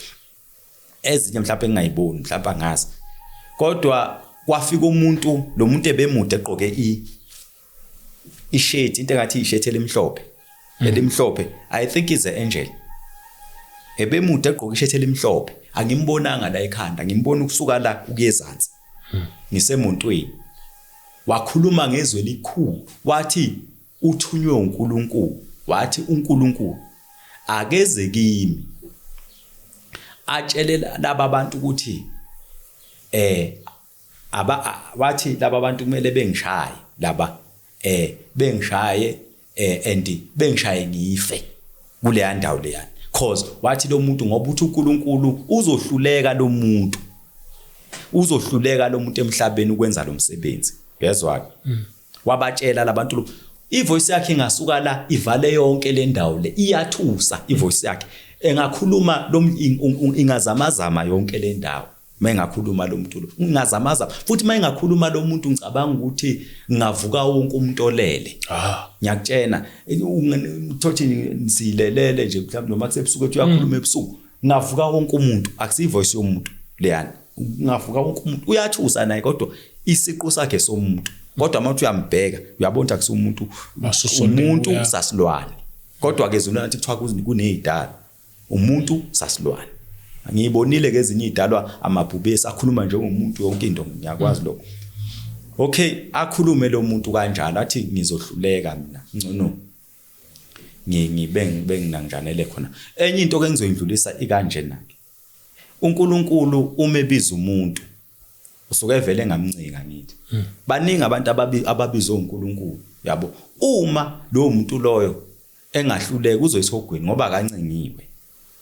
ezinye mhlawumbe engingayiboni mhlawumbe angazi kodwa kwafika umuntu lo muntu ebemude egqoke i ishethi into engathi ishethi elimhlophe mm. elimhlophe i think is a angel ebemude egqoka ishethi elimhlophe angimbonanga la ekhanda ngimbona ukusuka la ukuyezansi mm. ngisemontweni wakhuluma ngezwe elikhulu wathi uthunywe uNkulunkulu wathi uNkulunkulu akeze kimi atshele laba bantu ukuthi eh aba wathi laba bantu kumele bengishaye laba eh bengishaye eh and bengishaye ngife kuleya ndawo leya cause wathi lo muntu ngoba uthi uNkulunkulu uzohluleka lo muntu uzohluleka lo muntu emhlabeni ukwenza lo msebenzi uyezwa ke mm. wabatshela labantu lo ivoice yakhe ingasuka la ivale yonke le ndawo le iyathusa ivoice yakhe engakhuluma lo ingazamazama yonke le ndawo mengakhuluma lo mculo ngingazamaza futhi mengakhuluma lo muntu ngicabanga ukuthi ngavuka wonke umuntu olele ah. ngiyakutshena thothi silelele nje mhlawumbe noma kusebusuku ethi uyakhuluma mm. ebusuku ngavuka wonke umuntu akusiyi voice yomuntu leyani ngavuka wonke umuntu uyathusa naye kodwa isiqu sakhe somuntu kodwa uma uthi uyambheka uyabona ukuthi akusumuntu umuntu usasilwane kodwa ke zona nathi kuthiwa kunezidala Umuntu sasilwane. Ngiyibonile ke ezinye idalwa amabhubesi akhuluma njengomuntu yonke into ngiyakwazi lokho. Okay, akhulume lo muntu kanjalo athi ngizohluleka mina. Ngcono ngibe ngibe nginanjanele khona. Enye into ke ngizoyindlulisa ikanje nake. uNkulunkulu uma ebiza umuntu usuke evele ngamncika ngithi hmm. baningi abantu ababizwa uNkulunkulu yabo uma lo muntu loyo engahluleka uzoyisa ogwini ngoba akancengiwe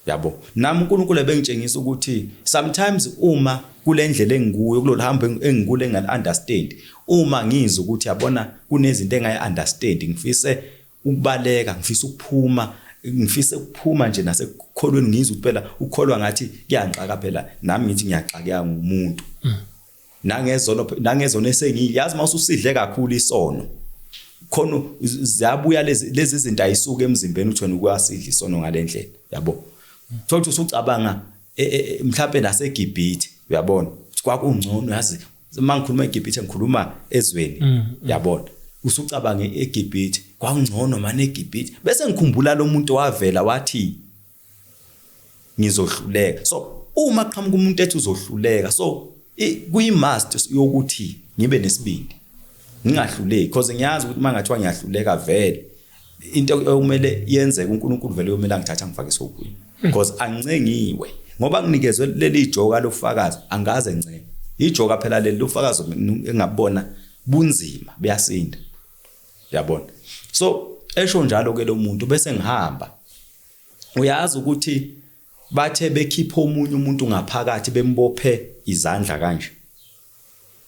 yabo nami uNkulunkulu ebengitshengisa ukuthi sometimes uma kulendlela engikuyo kulolu hambo engikule ngal understand uma ngizwe ukuthi yabona kunezinto engayi understand ngifise ukubaleka ngifisa ukuphuma ngifisa ukuphuma nje nasekukholweni ngizwe ukuthi phela ukholwa ngathi kuyangxaka phela nami ngithi ngiyaxakeka ngumuntu mm. nangezono nangezono esengi yazi mawususidle kakhulu isono khona ziyabuya lezi lezi zinto ayisuka emzimbeni uthi wena ukwasidla isono ngalendlela yabo thola ukuthi usucabanga e, e, e, mhlawumbe naseGibhithe uyabona kwakungcono yazi uma ngikhuluma eGibhithe ngikhuluma ezweni mm, mm. yabona usucabanga eGibhithe kwakungcono manje eGibhithe bese ngikhumbula lo muntu wavela wathi ngizohluleka so uma qhamuka umuntu ethi uzohluleka so kuyi must yokuthi ngibe nesibindi ngingahluleki because ngiyazi ukuthi mangathiwa ngiyahluleka vele into ekumele yenzeke uNkulunkulu vele uyomela ngithatha ngifake sokuyi because ancengiwe ngoba nginikezwe leli joka lofakazi angaze ncenge ijoka phela leli lofakazi engabona bunzima buyasinda yabona so esho njalo ke lo muntu bese ngihamba uyazi ukuthi bathe bekhipha omunye umuntu ngaphakathi bembophe izandla kanje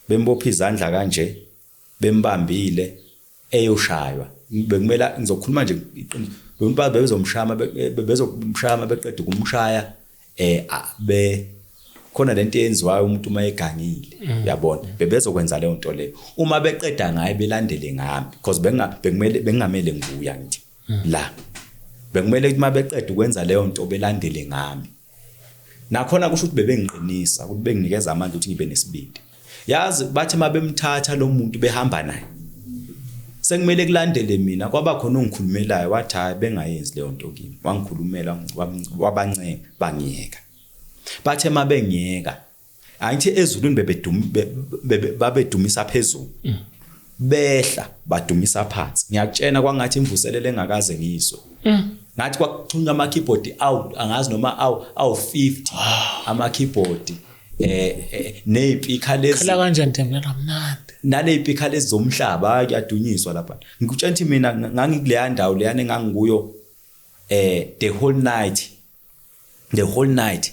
bembophe izandla kanje bembambile eyoshaywa bekumela ngizokhuluma nje iqiniso bembazi bezomshama bezomshama beqeda ukumshaya eh be khona lento eyenziwayo umuntu uma egangile mm. uyabona bebezokwenza leyo nto leyo uma beqeda ngaye belandele ngami because benga bekumele bengamele nguya ngithi la bekumele ukuthi mabeqeda ukwenza leyo nto belandele ngami nakhona kusho ukuthi bebengiqinisa ukuthi benginikeza amandla ukuthi ngibe nesibindi yazi bathi mabemthatha lo muntu behamba naye sekumele kulandele mina kwaba khona ongikhulumelayo wathi hayi bengayenzi leyo nto kimi wangikhulumela wabancenga bangiyeka bathe mabengiyeka Angithi ezulwini bebedumi babedumisa phezulu. Mm. Behla badumisa phansi. Ngiyakutshena kwangathi imvuselele engakaze ngizwe. Mm. Ngathi kwakuxhunywa ama keyboard awu angazi noma awu awu 50 ah. ama keyboard eh, eh nezipikha lezi. Khala kanjani Thembela mnandi. Nalezipikha lezi zomhlaba kuyadunyiswa lapha. Ngikutshena ukuthi mina ngangikuleya ndawo leyane ngangikuyo eh the whole night the whole night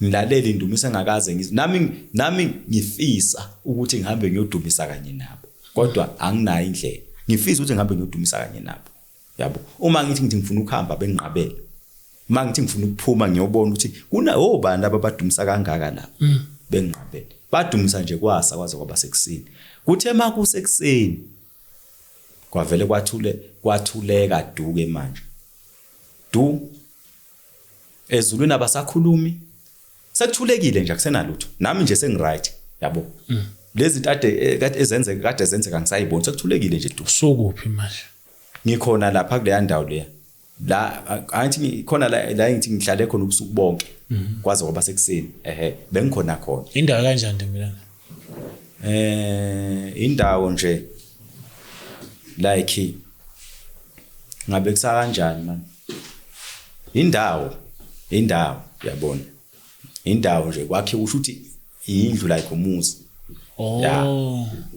Mlaleli ndumisa ngakaze ngiz nami nami ngifisa ukuthi ngihambe ngiyodumisa kanye nabo kodwa anginayo indlela ngifisa ukuthi ngihambe ngiyodumisa kanye nabo yabo uma ngithi ngithi ngifuna ukuhamba benginqabele uma ngithi ngifuna ukuphuma ngiyobona ukuthi kuna obani oh, laba badumisa kangaka la mm. benginqabele badumisa nje kwasa kwaze kwaba sekusini kuthe makusekuseni kwavele kwathule kwathuleka duke manje du ezulwini abasakhulumi sekuthulekile nje akusenalutho nami nje sengiright yabo mm. lezi kade eh, kade ezenzeka kade ezenzeka ngisayibona sekuthulekile nje tu sokuphi manje ngikhona lapha kuleya ndawo leya la angithi khona la la ngithi ngihlale khona ubusuku bonke mhm. kwaze kwaba sekuseni ehe bengikhona khona indawo kanjani ntombilana eh indawo nje like ngabe kusakanjani manje indawo indawo yabona indawo nje kwakhe usho ukuthi indlu like umuzi oh ya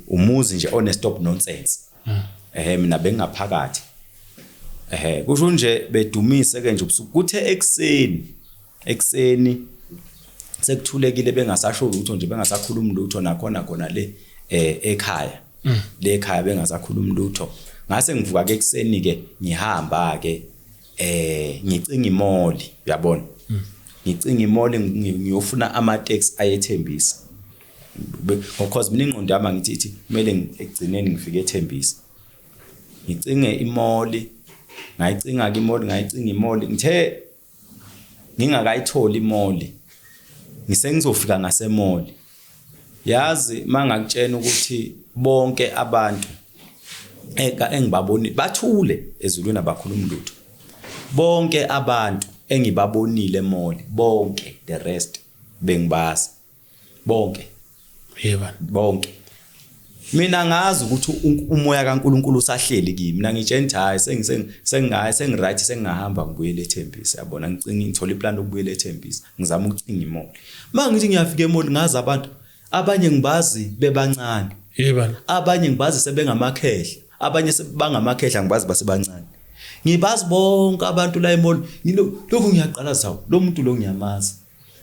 umuzi nje one stop nonsense hmm. ehe mina bengaphakathi ehe kusho nje bedumise ke nje ubusuku kuthe ekseni ekuseni sekuthulekile bengasasho lutho nje bengasakhulumi lutho nakhona khona le eh ekhaya mm. le ekhaya bengasakhulumi lutho ngase ngivuka ke ekuseni ke ngihamba ke eh ngicinga imoli uyabona mm. ngicinga imoli ngiyofuna ama tax ayethembisa because mina ingqondo yami ngithi ithi kumele ngigcineni ngifike ethembisa ngicinge imoli ngayicinga ke imoli ngayicinga imoli ngithe ngingakayitholi imoli ngisengizofika ngasemoli yazi mangakutshena ukuthi bonke abantu eka engibaboni bathule ezulwini abakhuluma lutho bonke abantu engibabonile emoli bonke the rest bengibazi bonke yeba bonke mina ngazi ukuthi umoya kaNkuluNkulu usahleli kimi mina ngitshentha hayi sengingayi sengiright sengingahamba ngibuyele eThembisa siyabona ngicinga ngithola iplan lokubuyela eThembisa ngizama ukucinga imoli uma ngithi ngiyafika emoli ngazi abantu abanye ngibazi bebancane yebana abanye ngibazi sebengamakhehla abanye sebangamakhehla ngibazi basebancane ngibazi bonke abantu la emoli lokhu ngiyaqala zawo lo muntu lo ngiyamazi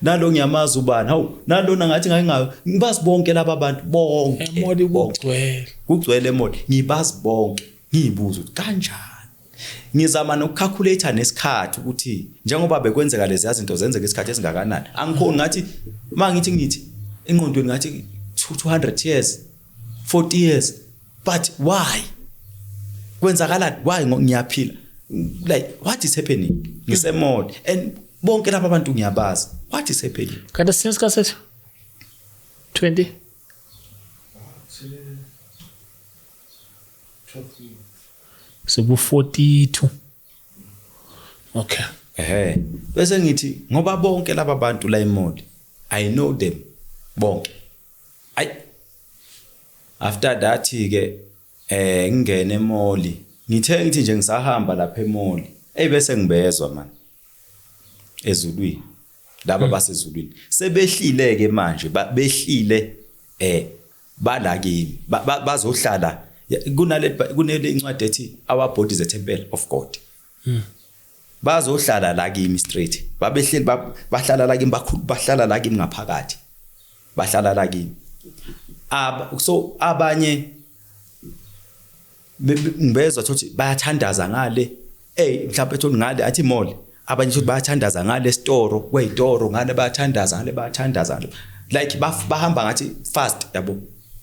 nalo ngiyamazi ubani hawu nalona ngathi ngake ngayo ngibazi bonke laba bantu bonke emoli kugcwele kugcwele emoli ngibazi bonke ngiyibuza ukuthi kanjani ngizama nokucalculator nesikhathi ukuthi njengoba bekwenzeka lezi yazinto zenzeka isikhathi esingakanani angikhoni ngathi mangithi ngithi enqondweni ngathi 200 years 40 years but why kwenzakalani why ngiyaphila like what is happening ngisemode and bonke laba bantu ngiyabazi what is happening kanti since kasethu 20 seku 42 okay ehe bese ngithi ngoba bonke laba bantu la emode i know them bonke ay After that ke eh ngingena emoli. Ngithe ngithi nje ngisahamba lapha emoli. Ey bese ngibezwa man. Ezulwini. Laba hmm. basezulwini. Sebehlile ke manje behlile eh bala kimi bazohlala kunale kunele incwadi ethi our bodies a temple of God. Hmm. Bazohlala la kimi straight. Babehleli bahlala la kimi bakhulu bahlala la kimi ngaphakathi. Bahlala la kimi. Ab so abanye ngibezwa ukuthi bayathandaza ngale. Ey mhlawumbe ethi ngale athi mall. Abanye ukuthi bayathandaza ngale store, kweyitoro ngale bayathandaza ngale bayathandaza ngale. Like bahamba ngathi fast yabo.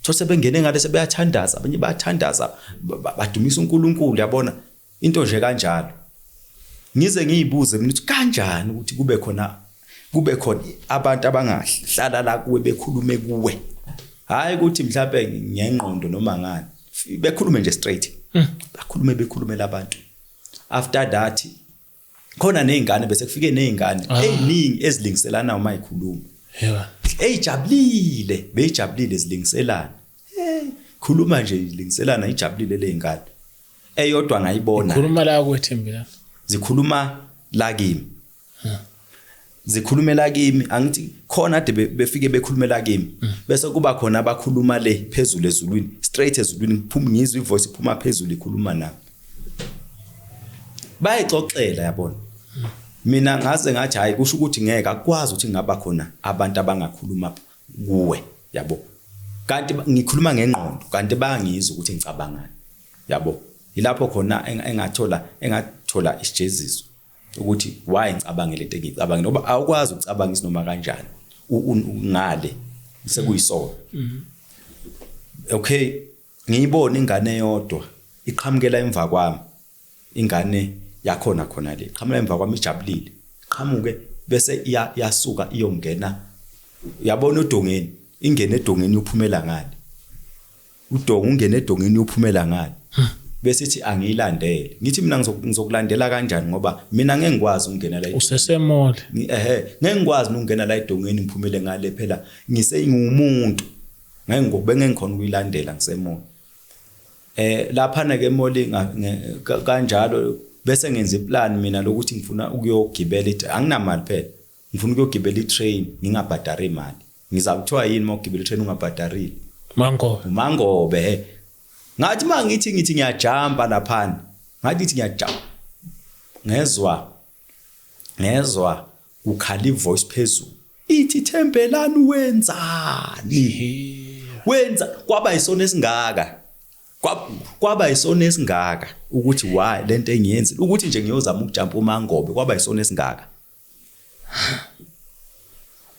so sebengene ngale sebeyathandaza abanye bayathandaza badumisa uNkulunkulu yabona into nje kanjalo ngize ngiyibuze mina ukuthi kanjani ukuthi kube khona kube khona abantu abangahlala la kuwe bekhulume kuwe hayi ukuthi mhlawumbe ngengqondo noma ngani bekhulume nje straight hmm. bakhulume bekhulumela abantu after that khona nezingane bese kufike nezingane ah. eziningi ezilingiselana uma ikhuluma yeah eyijabulile beyijabulile zilingiselana hey khuluma nje ilingiselana ijabulile lezingane eyodwa ngayibona khuluma la kwethimbi la zikhuluma la kimi zikhulumela kimi angithi khona ade befike bekhulumela kimi mm. bese kuba khona abakhuluma le phezulu ezulwini straight ezulwini ngiphuma ngizwe ivoice iphuma phezulu ikhuluma nami bayixoxela yabona mm. mina ngaze ngathi hayi kusho ukuthi ngeke akwazi ukuthi ngaba khona abantu abangakhuluma kuwe yabo kanti ngikhuluma ngengqondo kanti bangizwa ukuthi ngicabangani yabo yilapho khona engathola engathola isijeziso ukuthi why ngicabange lento engicabangile ngoba awukwazi ukucabanga isinoma kanjani ngale sekuyisona mm-hmm. okay ngiyibona ingane yodwa iqhamukela emva kwami ingane yakhona khona le qhamukela emva kwami ijabulile qhamuke bese iyasuka iyongena yabona odongeni ingene edongeni uphumela ngale udonga ungena edongeni uyophumela ngani bese ithi angiyilandele ngithi mina ngizokulandela kanjani ngoba mina ngeke ngikwazi ukungena la usesemole ehe ngeke ngikwazi ukungena la edongeni ngiphumele ngale phela ngisengumuntu ngeke ngikube ngengikhona ukuyilandela ngisemole eh lapha na ke moli kanjalo bese ngenza iplan mina lokuthi ngifuna ukuyogibela ithi anginamali phela ngifuna ukuyogibela itrain ngingabhadari imali ngiza kuthiwa yini uma ugibela itrain ungabhadarili mangobe umangobe he ngathi uma ngithi ngithi ngiyajamba laphana ngathi ngithi ngiyajamba ngezwa ngezwa kukhala ivoice phezulu ithi thembelani wenzani wenza kwaba isona esingaka kwaba isona esingaka ukuthi why lento engiyenzile ukuthi nje ngiyozama ukujampa umangobe kwaba isona esingaka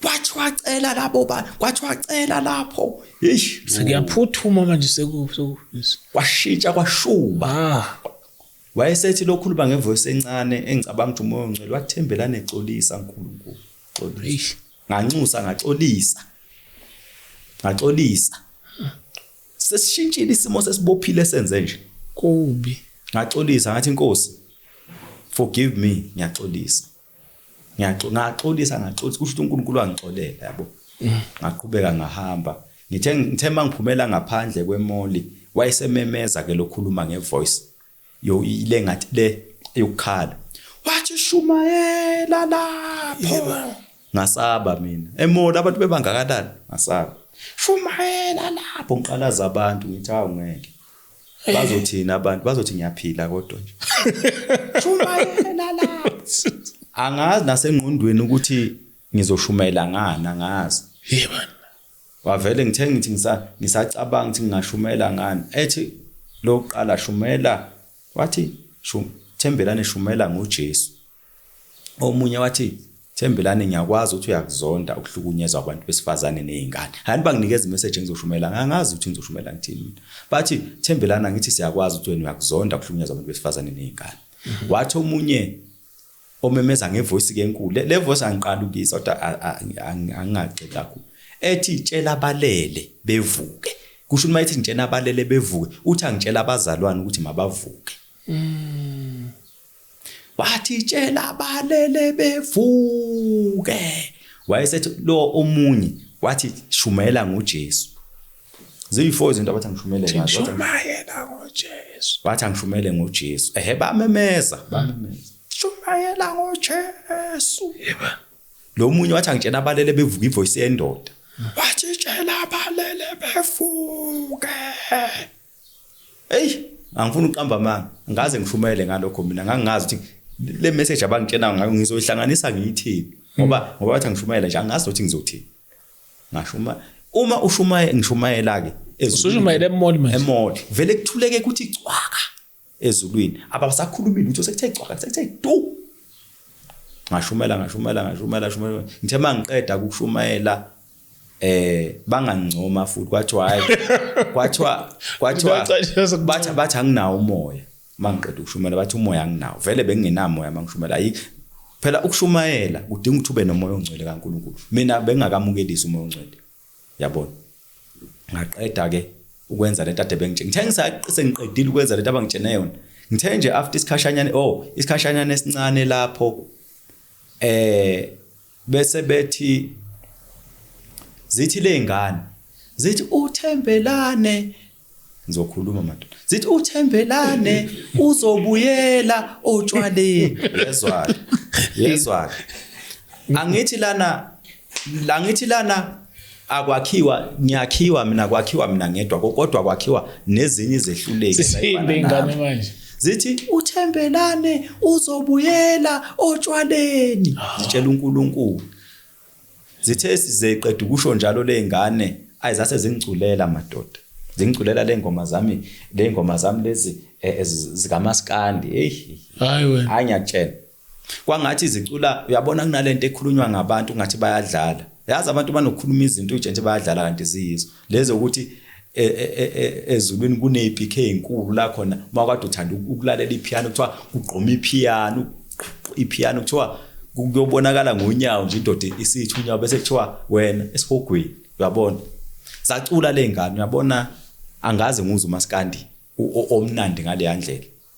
wathi wacela labo ba wathi wacela lapho eish sekuyaphuthuma manje seku kwashintsha kwashuba ah. wayesethi lokhuluma ngevoice encane engicabanga ukuthi umoya ongcwele wathembela nexolisa uNkulunkulu xolisa nganxusa ngaxolisa ngaxolisa Sesishintshile isimo sesibophile senze nje. Kubi. Ngaxolisa ngathi inkosi forgive me ngiyaxolisa. Ngiyaxolisa ngaxolisa ngaxolisa kusho ukuthi uNkulunkulu wangixolela yabo. Mm. Ngaqhubeka ngahamba. Ngithe ngithe mangiphumela ngaphandle kwemoli wayesememeza ke lokhuluma ngevoice. yo ile ngathi le yokukhala wathi shumayela lapho ngasaba mina emola abantu bebangakanani ngasaba shumayela lapho ngiqalaza abantu ngithi hawu ngeke eh. bazothina abantu bazothi ngiyaphila kodwa nje shumayela lapho angazi nasengqondweni ukuthi ngizoshumayela ngani angazi yebo wavele ngithe ngithi ngisa ngisacabanga ukuthi ngingashumela ngani ethi lokuqala shumela wathi shum thembelane shumela ngoJesu omunye wathi thembelane ngiyakwazi ukuthi uyakuzonda ukuhlukunyezwa abantu besifazane nezingane hani banginikeza imessage engizoshumela ngangazi ukuthi ngizoshumela ngithini mina bathi thembelana ngithi siyakwazi ukuthi wena uyakuzonda ukuhlukunyezwa abantu besifazane nezingane mhm. wathi omunye omemeza ngevoice ke enkulu le, le voice angiqala ukuyizwa kodwa angingagxili kakhulu ethi tshela abalele bevuke kusho uma ethi ngitshela abalele bevuke uthi angitshela abazalwane ukuthi mabavuke mm. wathi tshela abalele bevuke wayesethi lo omunye wathi shumayela ngoJesu Ziyi-four izinto abathi angishumele ngazo. Wathi, Shumayela ngoJesu. Wathi angishumele ngoJesu. Ehe bamemeza, bamemeza. Shumayela ngoJesu. Yebo. Lo munye wathi angitshela abalele bevuka ivoice yendoda. Wathi tshela abalele bevuke. Hey, angifuni uqamba amanga. Ngaze ngishumele ngalokho mina ngangazi ukuthi le message abangitshela ngayo ngizoyihlanganisa ngiyithini. Ngoba ngoba wathi angishumayela nje angazi ukuthi ngizothini. ngashuma uma ushumayela ngishumayela ke usushumayela emoli manje emoli vele kuthuleke ukuthi cwaka ezulwini abasakhulumi lutho sekuthe cwaka sekuthe du ngashumela ngashumela ngashumela shumela ngithe mangiqeda ukushumayela eh bangangcoma futhi kwathiwa hayi kwathiwa kwathiwa bathi bathi anginawo umoya uma ngiqeda ukushumayela bathi umoya anginawo vele bengingenamoya uma ngishumayela ayi phela ukushumayela kudinga ukuthi ube nomoya ongcwele kaNkulunkulu mina bengingakamukelisi umoya ongcwele yabona ngaqeda ke ukwenza lento ade bengitshela ngithe ngisaqise ngiqedile ukwenza lento abangitshene yona ngithe nje after isikhashanyana oh isikhashanyana esincane lapho eh bese bethi zithi lezingane zithi uthembelane ngizokhuluma madoda zithi uthembelane uzobuyela otshwaleni yezwa yezwa angithi lana la ngithi lana akwakhiwa ngiyakhiwa mina kwakhiwa mina ngedwa kodwa kwakhiwa nezinye izehluleki sihimbe ingane manje zithi uthembelane uzobuyela otshwaleni zitshela uNkulunkulu Zithe sizeqeda ukusho njalo lezingane ayi zase zingculela madoda. Zingculela lezingoma zami, lezingoma zami lezi eh, eh, zikamaskandi. Hey. Hayi wena. Hayi ngiyakutshela. Kwangathi izicula uyabona kunalento ekhulunywa ngabantu ngathi bayadlala. Yazi abantu banokukhuluma izinto nje nje bayadlala kanti ziyizo. lezo ukuthi e, e, e, ezulwini kune-PK enkulu la khona uma kade uthanda ukulalela ipiano kuthiwa kugqoma ipiano ipiano kuthiwa kuyobonakala ngonyawo nje indoda isithi unyawo bese kuthiwa wena esihogweni uyabona sacula le ngane uyabona angazi nguze umaskandi omnandi ngaleya ndlela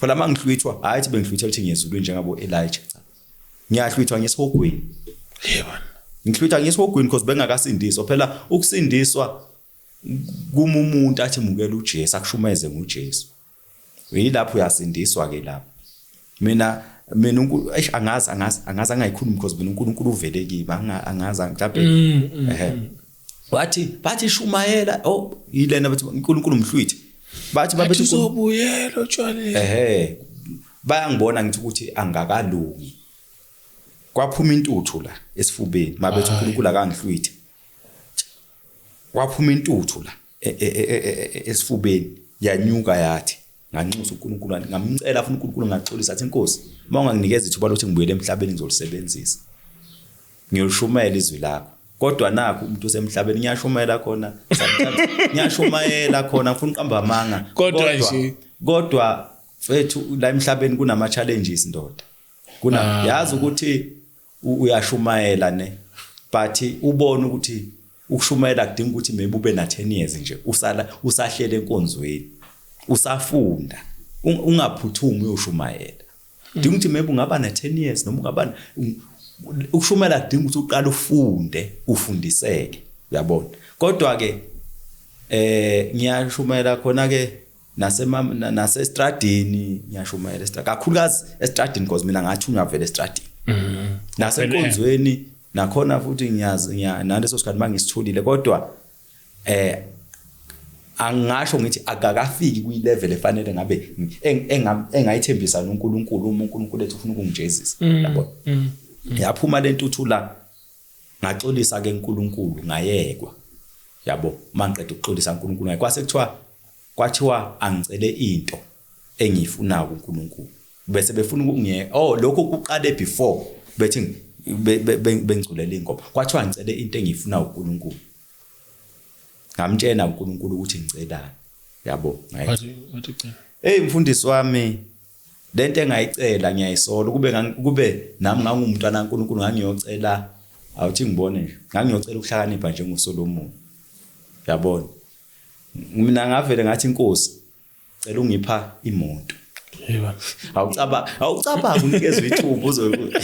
phela mangihlwithwa hayi thi bengihlwithwa ukuthi ngiyezulu njengabo Elijah cha ngiyahlwithwa ngesihogweni yebo ngihlwithwa ngesihogweni because bengakasindiswa phela ukusindiswa kuma umuntu athi mukela uJesu akushumeze ngoJesu yilapho uyasindiswa ke lapho mina mina uNkulunkulu eish angazi angazi angazi angayikhulumi because mina uNkulunkulu uvele kimi angazi mhlawumbe mm, mm, ehe mm. wathi bathi shumayela oh yilena bathi uNkulunkulu umhlwithi bathi babethi uzobuyela otshwaleni ehe bayangibona ngithi ukuthi angakalungi kwaphuma intuthu la esifubeni mabethi uNkulunkulu akangihlwithi kwaphuma intuthu la e, e, e, esifubeni yanyuka yathi nganxusa uNkulunkulu ngamcela afuna uNkulunkulu ngaxolisa athi inkosi uma unganginikeza ithuba lokuthi ngibuyele emhlabeni ngizolisebenzisa ngiyoshumela izwi lakho kodwa nakho umuntu osemhlabeni ngiyashumayela khona ngiyashumayela khona ngifuna uqamba amanga kodwa nje kodwa mfethu la emhlabeni kunama challenges ndoda kuna ah. yazi ukuthi uyashumayela ne but ubona ukuthi ukushumayela kudinga ukuthi maybe ube na 10 years nje usala usahlele enkonzweni usafunda ungaphuthumi uyoshumayela dinga ukuthi maybe ungaba na 10 years noma ungaba ukushumayela kudinga ukuthi uqale ufunde ufundiseke uyabona kodwa ke eh ngiyashumayela khona ke nasestradini ngiyashumayela estradini kakhulukazi estradini because mina ngathunywa vele estradini mm-hmm. nasenkonzweni nakhona futhi ngiyazi naleso sikhathi uma ngisitholile kodwa eh angasho ngithi akakafiki kwilevel efanele ngabe engayithembisa noNkulunkulu uma uNkulunkulu ethi ufuna ukungijezisa mm, yabo mm, mm. yaphuma lentuthu la ngaxolisa ke uNkulunkulu ngayekwa yabo mangiqeda ukuxolisa uNkulunkulu ngayekwa kwase kuthiwa kwathiwa angicele into engiyifuna kuNkulunkulu bese befuna ukungiye oh lokho kuqale before bethi bengigculela ingoma kwathiwa ngicele into engiyifuna uNkulunkulu ngamtshena uNkulunkulu ukuthi ngicelani yabo ngaye hey mfundisi wami Lento engayicela ngiyayisola ukube ukube nami ngangumntwana kaNkulunkulu ngangiyocela awuthi ngibone nje ngangiyocela ukuhlakanipha njengoSolomon yabona mina ngavele ngathi inkosi cela ungipha imoto yeba awucaba awucabanga unikezwe ithuba uzokuthi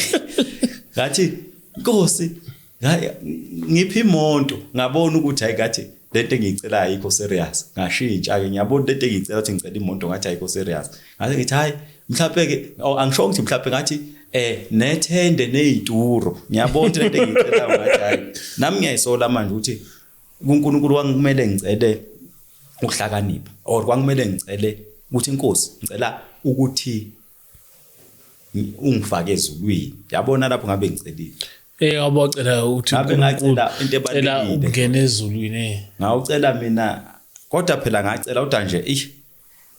ngathi inkosi ngiphi imonto ngabona ukuthi hayi kathi lento engiyicela ayikho serious ngashintsha ke ngiyabona lento engiyicela ukuthi ngicela imonto ngathi ayikho serious ngathi ngithi hayi mhlawumbe ke oh, angisho ukuthi mhlawumbe ngathi eh nethende nezituro ngiyabona ukuthi lento engiyicela ngathi hayi nami ngiyayisola manje ukuthi kuNkulunkulu wangikumele ngicele ukuhlakanipha or kwangikumele ngicele ukuthi inkosi ngicela ukuthi ungifake ezulwini yabona lapho ngabe ngicelile Eh wabocela ukuthi ngabe ngacela into ebalulekile ukungena ezulwini eh. ngawucela mina kodwa phela ngacela kodwa nje ish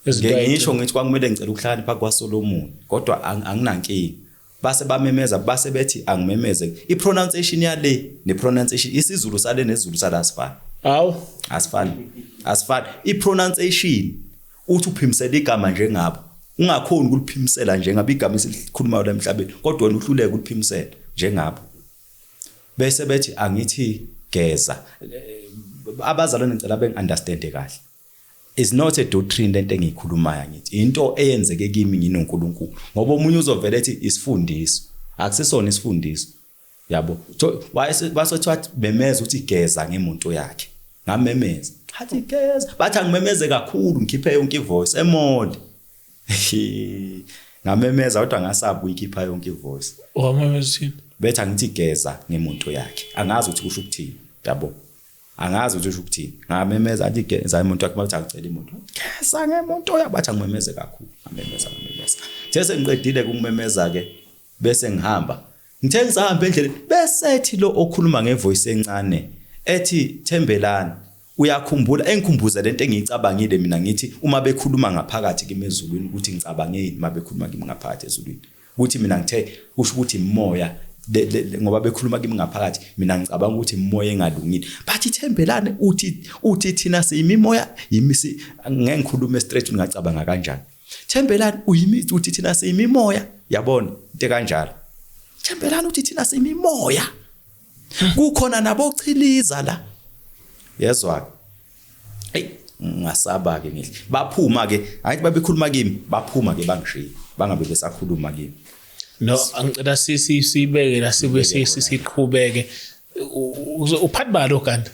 ngisho ngithi kwakumele ngicela ukuhlala pha kwaSolomon kodwa anginankinga base bamemeza base bethi angimemeze i pronunciation yale ne pronunciation isiZulu sale nezulu salasifana awu asifani asifani i pronunciation uthi uphimisela igama njengabo ungakhoni ukuliphimisela njengabo igama esilikhulumayo la emhlabeni kodwa wena uhluleke ukuliphimisela njengabo bese bethi angithi geza abazalwane ngicela bengiunderstande kahle is not a doctrine lento engiyikhulumayo ngithi into eyenzeke kimi nginoNkulunkulu ngoba omunye uzovela ethi isifundiso akusisona isifundiso yabo so basethiwa bemeza ukuthi geza ngemonto yakhe ngamemeza hathi geza bathi angimemeze kakhulu ngikhiphe yonke ivoice emode ngamemeza kodwa ngasaba uyikhipha yonke ivoice wamemezini bethi angithi geza ngemonto yakhe angazi ukuthi kusho ukuthini yabo angazi ukuthi usho ukuthini ngamemeza athi geza imonto yakhe bathi angicela imonto geza ngemonto yakhe bathi angimemeze kakhulu ngamemeza ngamemeza sese ngiqedile kumemeza ke Bese ngihamba. Ngithe ngisahamba endleleni besethi lo okhuluma ngevoice encane ethi Thembelani uyakhumbula engikhumbuza lento engiyicabangile mina ngithi uma bekhuluma ngaphakathi kimi ezulwini ukuthi ngicabangeni uma bekhuluma kimi ngaphakathi ezulwini ukuthi mina ngithe kusho ukuthi imoya ngoba bekhuluma kimi ngaphakathi mina ngicabanga ukuthi imoya engalungile but ithembelane uthi uthi thina siyimimoya yimisi ngengikhuluma straight ngacabanga kanjani Thembelani uyimithi uthi thina siyimimoya yabona into kanjalo. Thembelani uthi thina siyimimoya. Kukhona nabochiliza la. Yezwa. Hey ngasaba ke ngihle. Baphuma ke angithi babekhuluma kimi baphuma ke bangishiya bangabe besakhuluma kimi. No angicela sisi sibeke la sibe sisiqhubeke. Uphathi balo kanti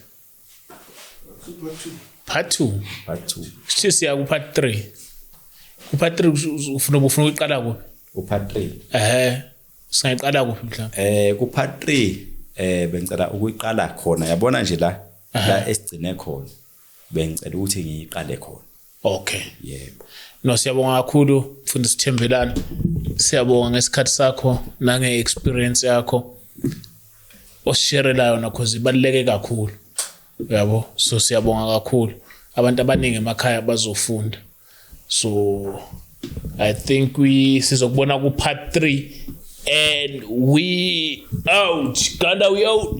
part two part two sithi siya kupart three kupart three ufuna ufuna ukuqala kuphi upart three ehe singayiqala kuphi mhlawumbe eh kupart three eh bengicela ukuyiqala khona yabona nje la la esigcine khona bengicela ukuthi ngiyiqale khona Okay. Yebo. No siyabonga kakhulu mfundisi Sithembelani. Siyabonga ngesikhathi sakho nange experience yakho. Osherela yona cause ibaluleke kakhulu. Yabo. So siyabonga kakhulu. Abantu abaningi emakhaya bazofunda. So I think we sizokubona ku part 3 and we out. Ganda we out.